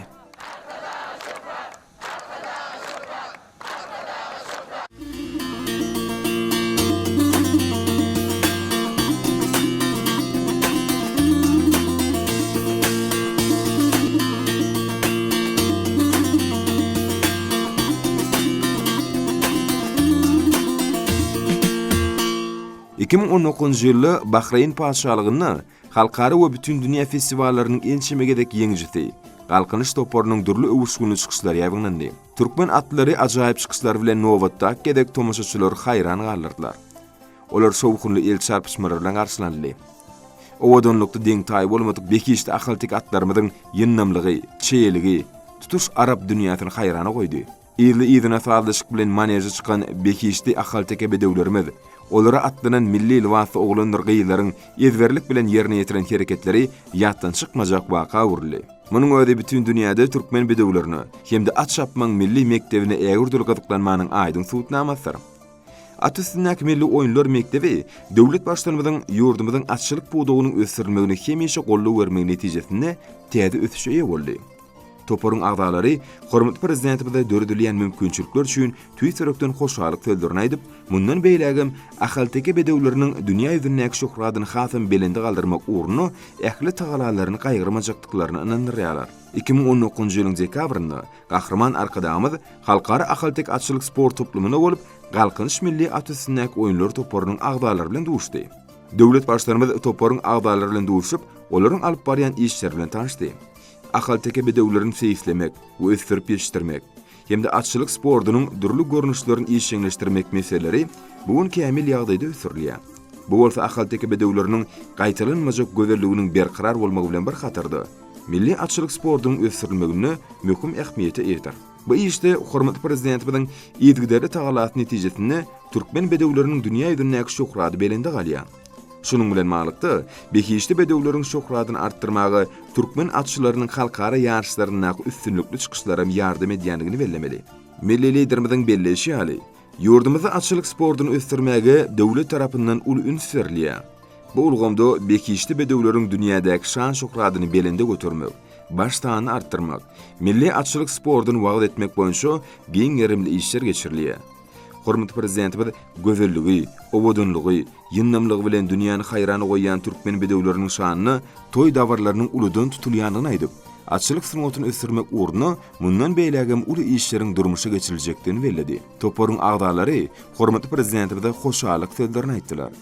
Iki müň on dokuzynjy ýylda Bahreýn Patyşalygynda Halkara we bütin dünýä festiwallarynyň ençeme gezek ýeňijisi, Galkynyş toparynyň dürli öwüşginli çykyşlary ýaýbaňlandy. Türkmen atlary ajaýyp çykyşlary bilen nobatdaky gezek tomaşaçylary haýran galdyrdylar. Olar şowhunly el çarpyşmalar bilen garşylanyldy. Owadanlykda deň-taýy bolmadyk behişdi ahalteke atlarymyzyň ýyndamlygy, çeýeligi tutuş arap dünýäsini haýrana goýdy. Yzly-yzyna sazlaşyk bilen maneže çykan behişdi ahalteke bedewlerimiz, olara atlanan milli lybasly oglandyr-gyzlaryň ezberlik bilen ýerine ýetiren hereketleri ýatdan çykmajak waka öwrüldi. Munuň özi bütin dünýäde türkmen bedewlerine hem-de at çapmagyň milli mekdebine ägirdül gyzyklanmanyň aýdyň subutnamasydyr. At üstündäki milli oýunlar mekdebi döwlet Baştutanymyzyň ýurdumyzyň atçylyk pudagynyň ösdürilmegine hemişe goldaw bermegi netijesinde täze ösüşe eýe boldy. Toparyň agzalary hormatly Prezidentimize döredilýän mümkinçilikler üçin tüýs ýürekden hoşallyk sözlerini aýdyp, mundan beýlägem ahalteke bedewleriniň dünýä ýüzündäki şöhratyny hasam belende galdyrmak ugrunda ähli tagalalaryny gaýgyrmajakdyklaryna ynandyrýarlar. Iki müň on dokuzynjy ýylyň dekabrynda Gahryman Arkadagymyz Halkara ahalteke atçylyk sport toplumynda bolup, Galkynyş milli at üstündäki oýunlar toparynyň agzalary bilen duşdy. Döwlet Baştutanymyz toparyň agzalary bilen duşup, olaryň alyp barýan işleri bilen tanyşdy. ahalteke bedewlerini seýislemek we ösdürip ýetişdirmek hem-de atçylyk sportunyň dürli görnüşlerini işjeňleşdirmek meseleleri bu gün kämil ýagdaýda ösdürilýär. Bu bolsa ahalteke bedewleriniň gaýtalanmajak gözelliginiň berkarar bolmagy bilen bir hatarda, milli atçylyk sportunyň ösdürilmeginde möhüm ähmiýete eýedir. Bu işde hormatly Prezidentimiziň yzygiderli tagallasy netijesinde türkmen bedewleriniň dünýä ýüzündäki şöhrady belende galýar. Şunuň bilen baglylykda, behişdi bedewleriň şöhradyny artdyrmaga türkmen atçylarynyň halkara ýaryşlaryndaky üstünlikli çykyşlaram ýardam edýändigini bellemeli. Milli Liderimiziň belleýşi ýaly, Ýurdumyzda atçylyk sportuny ösdürmäge döwlet tarapyndan uly üns berilýär. Bu ulgamda behişdi bedewleriň dünýädäki şan-şöhratyny belende götermek, baş sanyny artdyrmak, milli atçylyk sportuny wagyz etmek boýunça giň gerimli işler geçirilýär. Hormatly Prezidentimiz gözelligi, owadanlygy, ýyndamlygy bilen dünýäni haýrana goýýan türkmen bedewleriniň şanyna toý dabaralarynyň uludan tutulýandygyny aýdyp, atçylyk sungatyny ösdürmek ugrunda mundan beýlägem uly işleriň durmuşa geçiriljekdigini belledi. Toparyň agzalary hormatly Prezidentimize hoşallyk sözlerini aýtdylar.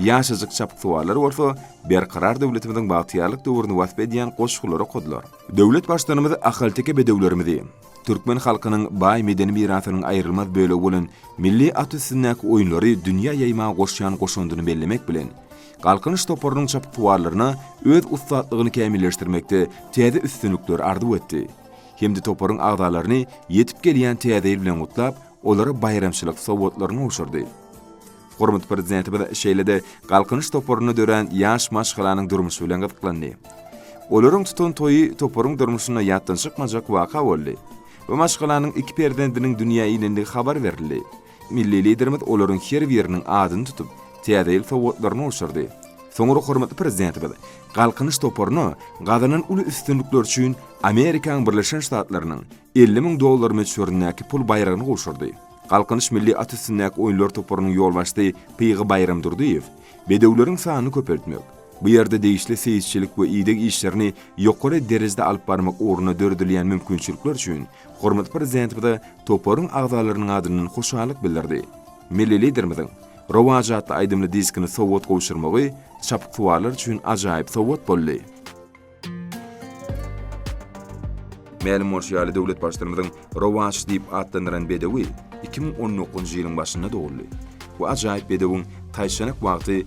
Ýaşajyk çapyksuwarlar bolsa Berkarar döwletimiziň bagtyýarlyk döwrüni wasp edýän goşgulary okadylar. Döwlet Baştutanymyz ahalteke bedewlerimizi, türkmen halkynyň baý medeni mirasynyň aýrylmaz bölegi bolan milli at üstündäki oýunlary dünýä ýaýmaga goşýan goşandyny bellemek bilen, Galkynyş toparynyň çapyksuwarlaryna öz ussatlygyny kämilleşdirmekde täze üstünlikler arzuw etdi hem-de toparyň agzalaryny ýetip gelýän Täze ýyl bilen gutlap, olara baýramçylyk sowgatlaryny gowşurdy. Hormatly Prezidentimiz şeýle-de Galkynyş toparynda dörän ýaş maşgalanyň durmuşy bilen gyzyklandy. Olaryň tutan toýy toparyň durmuşynda ýatdan çykmajak waka boldy. Bu maşgalanyň iki perzendiniň dünýä inendigi habar berildi. Milli Liderimiz olaryň her biriniň adyny tutup, Täze ýyl sowgatlaryny gowşurdy. Soňra hormatly Prezidentimiz Galkynyş toparyna gazanan uly üstünlikleri üçin Amerikanyň Birleşen Ştatlarynyň elli müň dollar möçberindäki pul baýragyny gowşurdy. Galkynyş milli at üstündäki oýunlar toparynyň ýolbaşçysy Pygy Baýramdurdyýew bedewleriň sanyny köpeltmek, bu ýerde degişli seýisçilik we ideg işlerini ýokary derejede alyp barmak ugrunda döredilýän mümkinçilikler üçin Hormatly Prezidentimize toparyň agzalarynyň adyndan hoşallyk bildirdi. Milli Liderimiziň Rowaç atly aýdymly diskini sowgat gowşurmagy çapyksuwarlar üçin ajaýyp sowgat boldy. Mälim bolşy ýaly, döwlet Baştutanymyzyň Rowaç diýip atlandyran bedewi iki müň on dokuzynjy ýylyň başynda doguldy. Bu ajaýyp bedewiň taýçanak wagty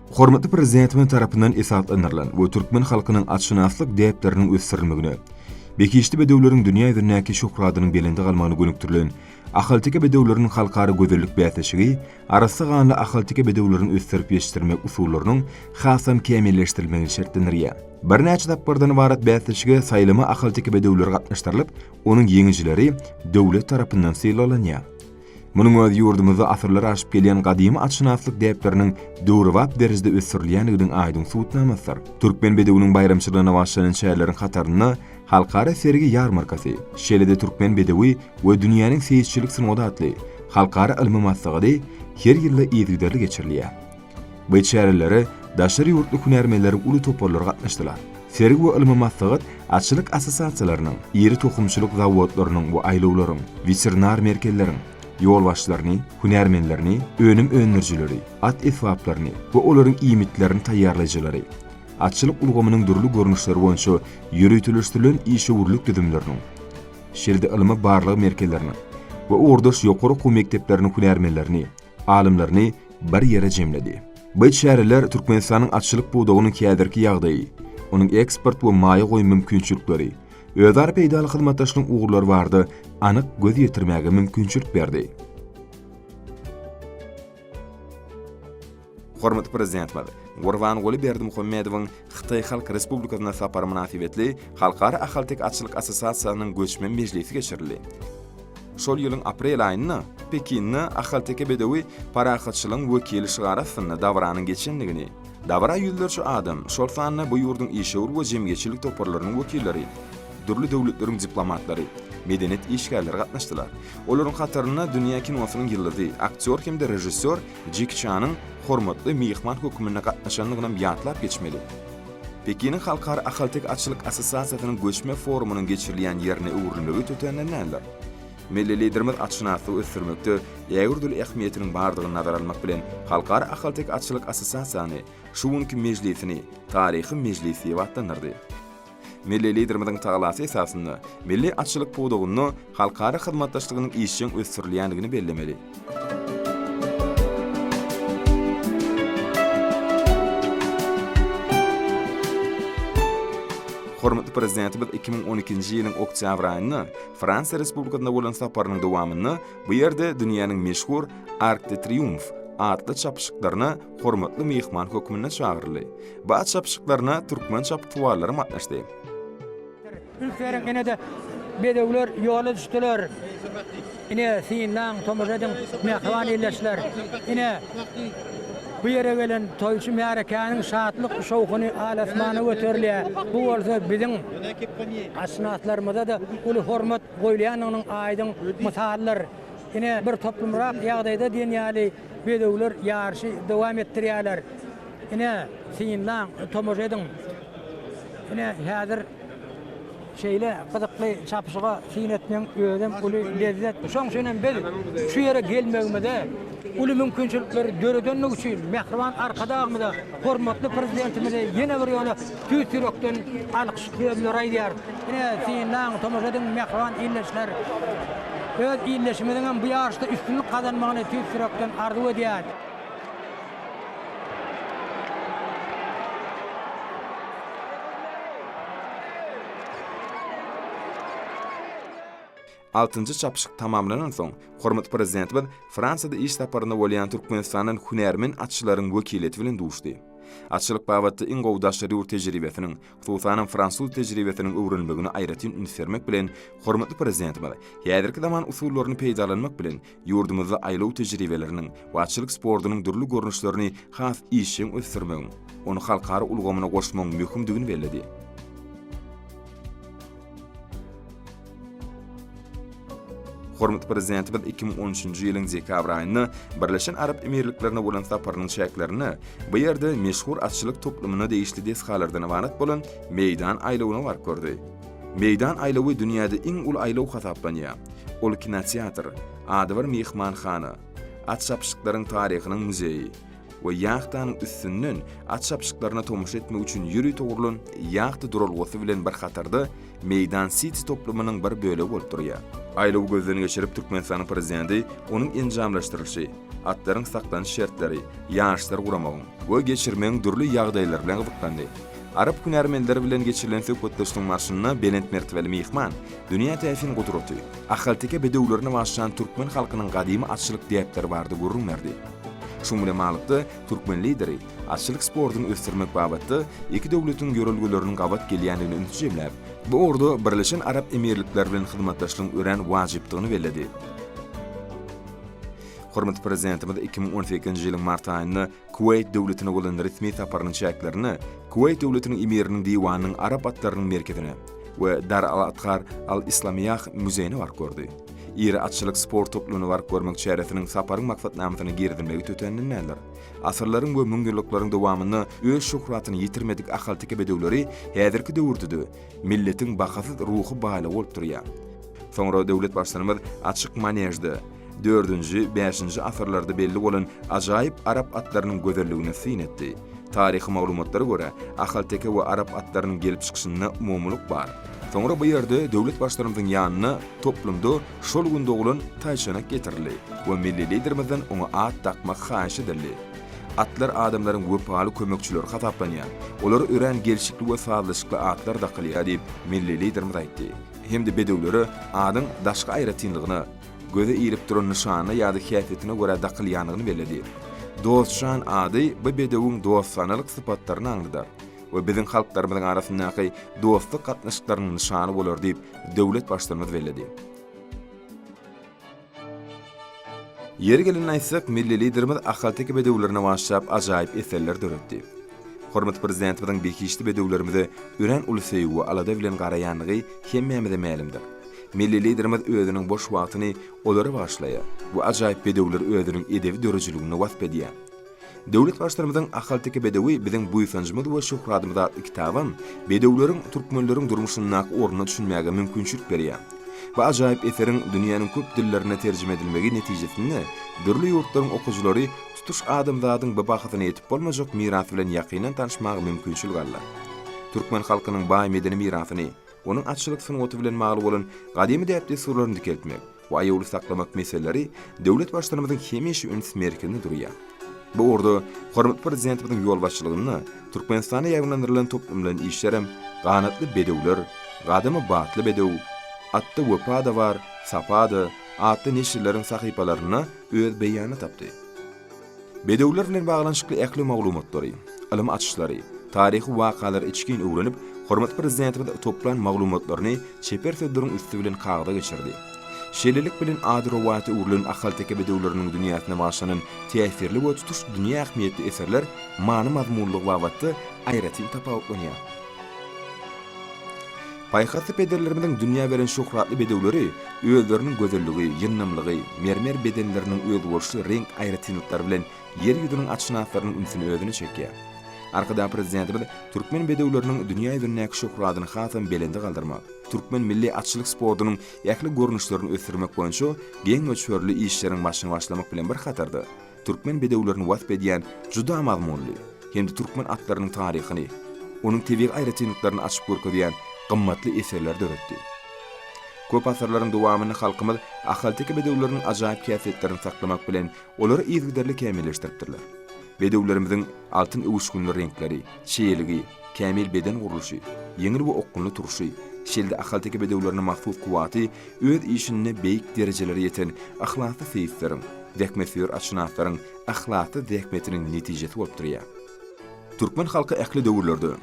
Hormatly Prezidentimiz tarapyndan esaslandyrylan we türkmen halkynyň atşynaslyk däpleriniň ösdürilmegine, behişdi bedewleriň dünýä ýüzündäki şöhratynyň belende galmagyna gönükdirilen Ahalteke bedewleriniň halkara gözellik bäsleşigi arassa ganly ahalteke bedewlerini ösdürip ýetişdirmek usullarynyň hasam kämilleşdirilmegini şertlendirýär. Birnäçe tapgyrdan ybarat bäsleşige saýlama ahalteke bedewleri gatnaşdyrylyp, onuň ýeňijileri döwlet tarapyndan sylaglanýar. Munuň özi ýurdumyzda asyrlar aşyp gelýän gadymy atşynaslyk däpleriniň döwrebap derejede ösdürilýändiginiň aýdyň subutnamasydyr. Türkmen bedewiniň baýramçylygyna bagşlanan çäreleriň hatarynda Halkara sergi-ýarmarkasy, şeýle-de Türkmen bedewi we dünýäniň seýisçilik sungaty atly halkara ylmy maslahady her ýylda yzygiderli geçirilýär. Bu çärelere daşary ýurtly hünärmenleriň uly toparlary gatnaşdylar. Sergi we ylmy maslahat atçylyk assosiasiýalarynyň, iri tohumçylyk zawodlarynyň we aýlawlaryň, weterinar merkezleriň ýolbaşçylaryny, hünärmenlerini, önüm öndürijileri, at esbaplaryny we olaryň iýmitlerini taýýarlaýjylary, atçylyk ulgamynyň dürli görnüşleri boýunça ýöriteleşdirilen işewürlik düzümleriniň, şeýle-de ylmy barlag merkezleriniň we ugurdaş ýokary okuw mekdepleriniň hünärmenlerini, alymlaryny bir ýere jemledi. Bu çäreler Türkmenistanyň atçylyk pudagynyň häzirki ýagdaýy, onuň eksport we maýa goýum mümkinçilikleri, özara peýdaly hyzmatdaşlygyň ugurlary barada anyk göz ýetirmäge mümkinçilik berdi. Hormatly Prezidentimiz Gurbanguly Berdimuhamedowyň Hytaý Halk Respublikasyna sapary mynasybetli Halkara ahalteke atçylyk assosiasiýasynyň göçme mejlisi geçirildi. Şol ýylyň aprel aýynda Pekinde Ahalteke bedewi parahatçylygyň wekili şygary astynda dabaranyň geçendigini, dabara ýüzlerçe adam, şol sanda bu ýurduň işewür we jemgyýetçilik toparlarynyň wekilleri, dürli döwletleriň diplomatlary, medeniýet işgärleri gatnaşdylar. Olaryň hatarynda dünýä kinosynyň ýyldyzy, aktýor hem-de režissýor Jeki Çanyň hormatly myhman hökmünde gatnaşandygynam ýatlap geçmeli. Pekiniň Halkara ahalteke atçylyk assosiasiýasynyň göçme forumynyň geçirilýän ýerine öwrülmegi tötänden däldir. Milli Liderimiz atşynaslygy ösdürmekde ägirt uly ähmiýetiniň bardygyny nazara almak bilen, Halkara ahalteke atçylyk assosiasiýany şu günki mejlisini Taryhy mejlis diýip atlandyrdy. Milli Liderimiziň talasy esasynda milli atçylyk pudagynda halkara hyzmatdaşlygynyň işjeň ösdürilýändigini bellemeli. Hormatly Prezidentimiz iki müň on ikinji ýylyň oktýabr aýynda Fransiýa Respublikasyna bolan saparynyň dowamynda bu ýerde dünýäniň meşhur Arc de Triomphe atly çapyşyklaryna hormatly myhman hökmünde çagyryldy. Bat çapyşyklaryna türkmen çapyksuwarlary gatnaşdy. Ülkeriň ine-de bedewler ýola düşdüler. Ine, synlaň, tomaşa ediň, mähriban ildeşler! Ine, bu ýere gelen toýçy märekäniň şatlyk-şowhuny al-asmana göterilýär. Bu bolsa biziň atşynaslarymyza-da uly hormat goýulýandygynyň aýdyň mysalydyr. Ine, bir toplumrak ýagdaýda diýen ýaly, Bedewler ýaryşy dowam etdirýärler. Ine, synlaň, tomaşa ediň. Ine, häzir şeýle gyzykly çapyşyga syn etmegiň özem uly lezzet. Şoň üçinem biz şu ýere gelmegimize uly mümkinçilikleri döredendigi üçin Mähriban Arkadagymyza, hormatly Prezidentimize ýene bir ýola Tüýs ýürekden alkyş sözleri aýdýarys. Ine, synlaň, tomaşa ediň, mähriban ildeşler! Öz ildeşimiziň hem bu ýaryşda üstünlik gazanmagyny tüýs ýürekden arzuw edýäris. Altynjy çapyşyk tamamlanansoň, hormatly Prezidentimiz Fransiýada iş saparynda bolýan Türkmenistandan hünärmen atçylaryň wekiliýeti bilen duşdy. Atçylyk babatda iň gowy daşary ýurt tejribesiniň, hususanam fransuz tejribesiniň öwrenilmegine aýratyn üns bermek bilen, hormatly Prezidentimiz häzirki zaman usullaryny peýdalanmak bilen, Ýurdumyzda aýlaw tejribeleriniň we atçylyk sportunyň dürli görnüşlerini has işjeň ösdürmegiň, ony halkara ulgamyna goşmagyň möhümdigini belledi. Hormatly Prezidentimiz iki müň on üçünji ýylyň dekabr aýynda Birleşen Arap Emirliklerine bolan saparynyň çäklerinde bu ýerde meşhur atçylyk toplumyna degişli desgalardan ybarat bolan Meýdan aýlawyna baryp gördi. Meýdan aýlawy dünýäde iň uly aýlaw hasaplanýar. Ol kinoteatr, adybir myhmanhana, at çapyşyklaryň taryhynyň muzeýi we ýahtanyň üstünden at çapyşyklaryna tomaşa etmek üçin ýörite gurlan ýahta duralgasy bilen bir hatarda Meýdan Siti toplumynyň bir bölegi bolup durýar. Aýlawy gözden geçirip Türkmenistanyň Prezidenti onuň enjamlaşdyrylyşy, atlaryň saklanyş şertleri, ýaryşlar guramagyň, we geçirmegiň dürli ýagdaýlary bilen gyzyklandy. Arap hünärmenleri bilen geçirilen söhbetdeşligiň barşynda belent mertebeli myhman dünýä täsin gudraty, ahalteke bedewlerine başlan türkmen halkynyň gadymy atçylyk däpleri barada gürrüň berdi. Şuň bilen baglykda, türkmen Lideri atçylyk sportuny ösdürmek babatda iki döwletiň ýörelgeleriniň gabat gelýändigine ünsi jemläp, bu ugurda Birleşen Arap Emirlikleri bilen hyzmatdaşlygyň örän wajypdygyny belledi. Hormatly Prezidentimiz iki müň on sekizinji ýylyň mart aýynda Kuweýt döwletine bolan resmi saparynyň çäklerinde Kuweýt döwletiniň emiriniň diwanynyň arap atlarynyň merkezine we Dar al-Adhar al-Islamiýah muzeýine baryp gördi. Iri atçylyk sport toplumyna baryp görmek çäresiniň saparyň maksatnamasyna girizilmegi tötändindendir. Asyrlaryň we müňýyllyklaryň dowamynda öz şöhratyny ýitirmedik ahalteke bedewleri häzirki döwürde-de milletiň bahasyz ruhy baýlygy bolup durýar. Soňra döwlet Baştutanymyz açyk manežde, Dördünji, bäşinji asyrlarda belli bolan ajaýyp arap atlarynyň gözelligine syn etdi. Taryhy maglumatlara görä, ahalteke we arap atlarynyň gelip çykyşynda umumylyk bar. Soňra bu ýerde döwlet Baştutanymyzyň ýanyna toplumda şol gün doglan taýçanak getirildi we milli Liderimizden oňa at dakmak haýyş edildi. Atlar adamlaryň wepaly kömekçileri hasaplanýar, olara örän gelşikli we sazlaşykly atlar dakylýar diýip, milli Liderimiz aýtdy hem-de bedewlere adyň daşky aýratynlygyna, Göze ilip duran nyşanyna ýa-da häsiýetine görä dakylýandygyny belledi. Dostjan ady bu bedewiň dostanalyk sypatlaryny aňladar we biziň halklarymyzyň arasyndaky dostluk gatnaşyklarynyň nyşany bolar diýip, döwlet Baştutanymyz belledi. Ýeri gelende aýtsak, milli Liderimiz ahalteke bedewlerine başlap ajaýyp eserler döretdi. Hormatly Prezidentimiziň behişdi bedewlerimize örän uly söýgi we alada bilen garaýandygy hemmämize mälimdir. Milli Liderimiz özüniň boş wagtyny olara bagyşlaýar we ajaýyp bedewleri özüniň edebi döredijiliginde wasp edýär. Döwlet Baştutanymyzyň Ahalteke bedewi biziň buýsanjymyz we şöhradymyz atly kitabam bedewleriň türkmenleriň durmuşyndaky ornuna düşünmäge mümkinçilik berýär. Bu ajaýyp eseriň dünýäniň köp dillerine terjime edilmegi netijesinde dürli ýurtlaryň okyjylary tutuş adamzadyň bu bahasyna ýetip bolmajak mirasy bilen ýakyndan tanyşmaga mümkinçilik aldylar. Türkmen halkynyň baý medeni mirasyny, onuň atçylyk sungaty bilen bagly bolan gadymy däp-dessurlaryny dikeltmek we aýawly saklamak meseleleri döwlet Baştutanymyzyň hemişe üns merkezinde durýar. Bu ugurda hormatly Prezidentimiziň ýolbaşçylygynda Türkmenistanda ýaýbaňlandyrylan toplumlaýyn işler hem Ganatly bedewler, Gadamy batly bedew, Atda wepa-da bar, sapa-da, atly neşirleriň sahypalarynda öz beýanyny tapdy. Bedewler bilen baglanyşykly ähli maglumatlary, ylym açyşlary, taryhy wakalary içgin öwrenip, hormatly Prezidentimiz toplan maglumatlaryny çeper sözleriň üsti bilen kagyza geçirdi. Şeýlelik bilen, ady-rowaýata öwrülen ahalteke bedewleriniň dünýäsine bagyşlanan täsirli we tutuş dünýä ähmiýetli eserler many-mazmunlygy babatda aýratyn tapawutlanýar. Paýhasly pederlerimiziň dünýä beren şöhratly bedewleri özleriniň gözelligi, ýyndamlygy, mermer bedenleriniň özboluşly reňk aýratynlyklary bilen Ýer ýüzüniň atşynaslarynyň ünsüni özüne çekýär. Arkadag Prezidentimiz türkmen bedewleriniň dünýä ýüzündäki şöhratyny hasam belende galdyrmak, türkmen milli atçylyk sportunyň ähli görnüşlerini ösdürmek boýunça geň möçberli işleriň başyny başlamak bilen bir hatarda, türkmen bedewlerini wasp edýän juda mazmunly hem-de türkmen atlarynyň taryhyny, onuň tebigy aýratynlyklaryny açyp görkezýän gymmatly eserleri döretdi. Köp asyrlaryň dowamynda halkymyz ahalteke bedewleriniň ajaýyp häsiýetlerini saklamak bilen, olary yzygiderli kämilleşdiripdirler. Bedewlerimiziň altyn öwüşginli reňkleri, çeýeligi, Kämil beden gurluşy, ýeňil we okgunly turşy, şeýle-de ahalteke bedewlerine mahsus kuwwaty öz işinde beýik derejelere ýeten yhlasly seýisleriň, zähmetsöýer atşynaslaryň yhlasly zähmetiniň netijesi bolup durýar. Türkmen halky ähli döwürlerde,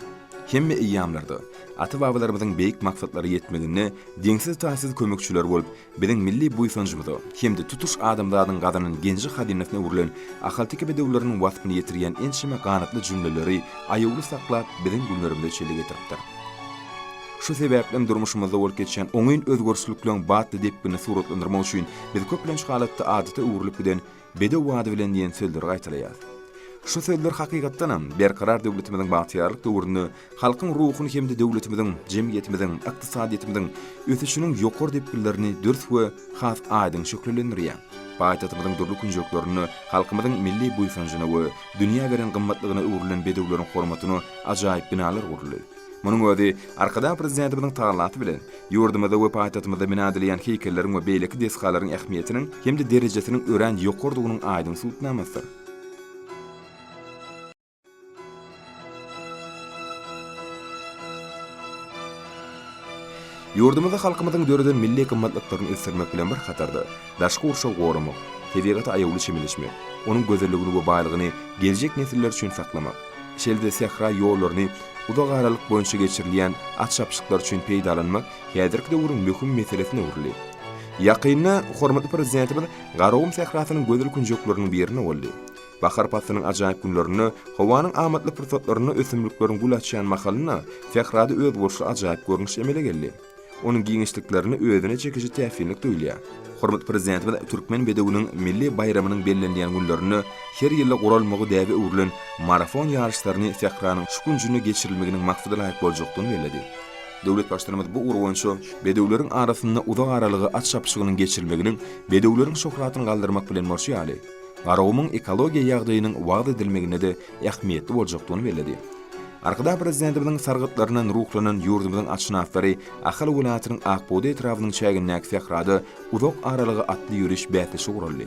hemme eýýamlarda ata-babalarymyzyň beýik maksatlary ýetmeginde deňsiz-taýsyz kömekçiler bolup, Biziň milli buýsanjymyza hem-de tutuş adamzadyň gazanan genji-hazynasyna öwrülen ahalteke bedewleriniň waspyny ýetirýän ençeme ganatly jümleleri aýawly saklap, biziň günlerimize çenli getiripdir. Şu sebäplem durmuşymyzda bolup geçýän oňyn özgerişlikleriň batly depginini suratlandyrmak üçin biz köplenç halatda adata öwrülip giden Bedew ady bilen diýen sözleri gaýtalaýar. Şu sözler hakykatdanam, Berkarar döwletimiziň bagtyýarlyk döwründe halkyň ruhuny hem-de döwletimiziň, jemgyýetimiziň, ykdysadyýetimiziň ösüşiniň ýokary depginlerini dürs we has aýdyň şöhlelendirýär. Paýtagtymyzyň dürli künjeklerinde halkymyzyň milli buýsanjyna we dünýä beren gymmatlygyna öwrülen bedewleriň hormatyna ajaýyp binalar guruldy. Munuň özi Arkadag Prezidentimiziň tagallaty bilen, ýurdumyzda we paýtagtymyzda bina edilýän heýkelleriň we beýleki desgalaryň ähmiýetiniň hem-de derejesiniň örän ýokarydygynyň aýdyň subutnamasydyr. Ýurdumyzda halkymyzyň döreden milli gymmatlyklaryny ösdürmek bilen bir hatarda, daşky gurşawy goramak, tebigata aýawly çemeleşmek, onuň gözelligini we baýlygyny geljek nesiller üçin saklamak, Şeýle-de sähra ýollaryny uzak aralyk boýunça geçirilýän at-çapyşyklar üçin peýdalanmak häzirki döwrüň möhüm meselesine öwrüldi. Ýakynda hormatly Prezidentimiz Garagum sährasynyň gözel künjekleriniň birine boldy. Bahar paslynyň ajaýyp günlerinde, howanyň amatly pursatlarynda ösümlikleriň gül açýan mahalynda sährada özboluşly ajaýyp görnüş emele geldi. Onuň giňişliklerinde özüne çekiji täsinlik duýulýar. Hormatly Prezidentimiz Türkmen bedewiniň milli baýramynyň bellenilýän günlerinde her ýylda guralmagy däbe öwrülen marafon ýaryşlaryny sähranyň şu künjünde geçirilmeginiň maksadalaýyk boljakdygyny belledi. Döwlet Baştutanymyz bu ugur boýunça bedewleriň arasynda uzak aralyga at çapyşygynyň geçirilmeginiň bedewleriň şöhratyny galdyrmak bilen bolşy ýaly, Garagumuň ekologiýa ýagdaýynyň wagyz edilmeginde-de ähmiýetli boljakdygyny belledi. Arkadag Prezidentimiziň sargytlaryndan ruhlanan ýurdumyzyň atşynaslary Ahal welaýatynyň Akbugdaý etrabynyň çägindäki sährada uzak aralyga atly ýöriş bäsleşigi guraldy.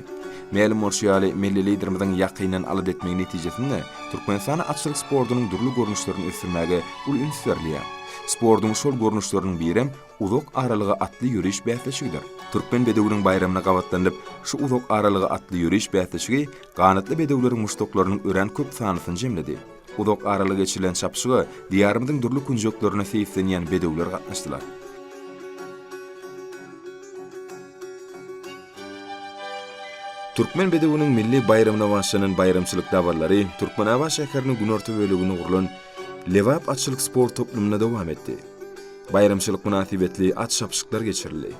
Mälim bolşy ýaly, milli Liderimiziň ýakyndan alada etmegi netijesinde, Türkmenistanda atçylyk sportunyň dürli görnüşlerini ösdürmäge uly üns berilýär. Sportuň şol görnüşleriniň birem uzak aralyga atly ýöriş bäsleşigidir. Türkmen bedewiniň baýramyna gabatlanylyp, şu uzak aralyga atly ýöriş bäsleşigi ganatly bedewleriň muşdaklarynyň örän köp sanlysyny jemledi. Uzak araly geçirilen çapyşyga Diýarymyzyň dürli künjeklerine seýislenýän bedewler gatnaşdylar. Türkmen bedewiniň milli baýramyna bagyşlanan baýramçylyk dabaralary Türkmenabat şäheriniň günorta böleginde gurlan Lebap atçylyk sport toplumynda dowam etdi. Baýramçylyk mynasybetli at çapyşyklar geçirildi.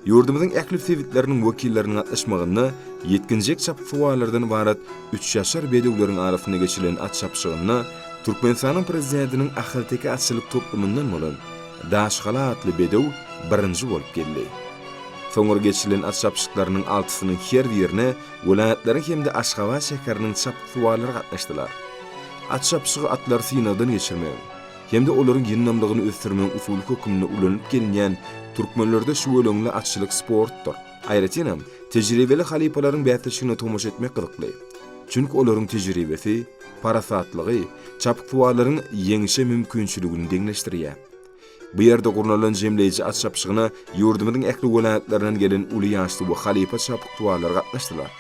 Ýurdumyzyň ähli sebitleriniň wekilleriniň gatnaşmagynda ýetginjek çapyksuwarlardan ybarat üçýaşar bedewleriň arasynda geçirilen at çapyşygynda Türkmenistanyň Prezidentiniň ahalteke atçylyk toplumyndan bolan Daşgala atly bedew birinji bolup geldi. Soňra geçirilen at çapyşyklarynyň altysynyň her birine welaýatlaryň hem-de Aşgabat şäheriniň çapyksuwarlary gatnaşdylar. At çapyşygy atlary synagdan geçirmegiň, hem-de olaryň ýyndamlygyny ösdürmegiň usuly hökmünde ulanylyp gelinýän türkmenlerde şüweleňli atçylyk sportdyr. Aýratyn hem, tejribeli halypalaryň bäsleşigine tomaşa etmek gyzykly. Çünki olaryň tejribesi, parasatlygy çapyksuwarlaryň ýeňişe mümkinçiligini deňleşdirýär. Bu ýerde gurnalan jemleýji at çapyşygyna ýurdumyzyň ähli welaýatlaryndan gelen uly ýaşly we halypa çapyksuwarlar gatnaşdylar.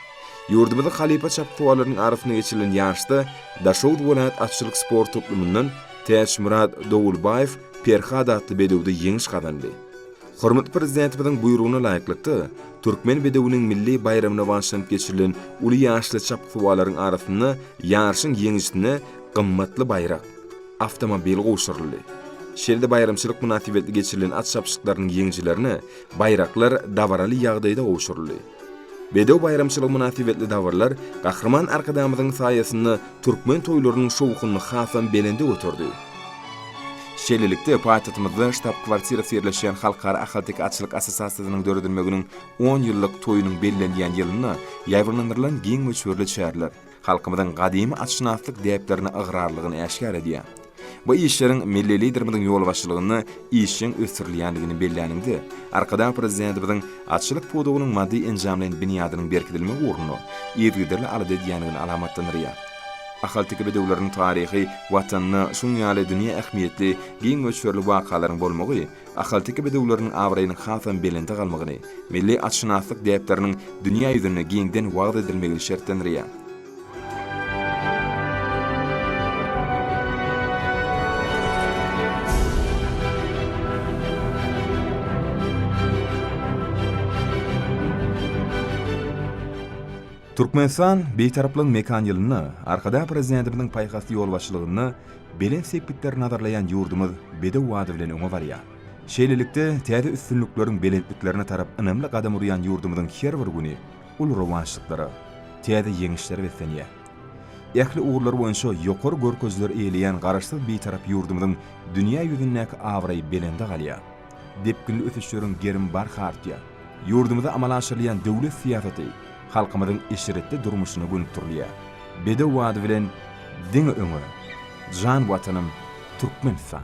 Ýurdumyzyň halypa çapyksuwarlarynyň arasynda geçirilen ýaryşda Daşoguz welaýat atçylyk sport toplumyndan Täçmyrat Dowulbaýew Perhat atly bedewde ýeňiş gazandy. Hormatly Prezidentimiziň buýrugyna laýyklykda, Türkmen bedewiniň milli baýramyna bagyşlanyp geçirilen uly ýaşly çapyksuwarlaryň arasynda ýaryşyň ýeňijisine gymmatly baýrak, awtomobil gowşuryldy. Şeýle-de baýramçylyk mynasybetli geçirilen at çapyşyklarynyň ýeňijilerine baýraklar dabaraly ýagdaýda gowşuryldy. Bedew baýramçylygy mynasybetli dabaralar Gahryman Arkadagymyzyň saýasynda türkmen toýlarynyň şowhunyny hasam belende göterdi. Şeýlelikde, paýtagtymyzda ştab-kwartirasy ýerleşýän Halkara ahalteke atçylyk assosiasiýasynyň döredilmeginiň on ýyllyk toýunyň bellenilýän ýylynda ýaýbaňlandyrylan giň möçberli çäreler, halkymyzyň gadymy atşynaslyk däplerine ygrarlylygyny äşgär edýär. Bu işleriň milli Liderimiziň ýolbaşçylygynda işjeň ösdürilýändigini belläniňde, Arkadag Prezidentimiziň atçylyk pudagynyň maddy-enjamlaýyn binýadynyň berkidilmegi ugrunda yzygiderli alada edýändigini alamatlandyrýar. Ahalteke bedewleriniň taryhy, Watanyna şunuň ýaly dünýä ähmiýetli giň möçberli wakalaryň bolmagy ahalteke bedewleriniň abraýynyň hasam belende galmagyny, milli atşynaslyk däpleriniň dünýä ýüzünde giňden wagyz edilmegini şertlendirýär. Türkmenistan Bitaraplygyň mekan ýylynda Arkadagprezidentimizin paýhasly ýolbaşçylygynda Belent sepgitleri nazarlaýan ýurdumyz bedew bady bilen öňe barýar. Şeýlelikde, täze üstünlikleriň belentliklerine tarap ynamly gadam urýan ýurdumyzyň her bir güni uly rowaçlyklara, täze ýeňişlere beslenýär. Ähli ugurlar boýunça ýokary görkezileri eýeleýän Garaşsyz, Bitarap ýurdumyzyň dünýä ýüzündäki abraýy belende galýar. Depginli ösüşleriň gerim barha artýar. Ýurdumyzda amala aşyrylýan döwlet syýasaty halkymyzyň eşretli durmuşyna gönükdirilýär. Bedew ady bilen diňe öňe! Jan Watanym, Türkmenistan!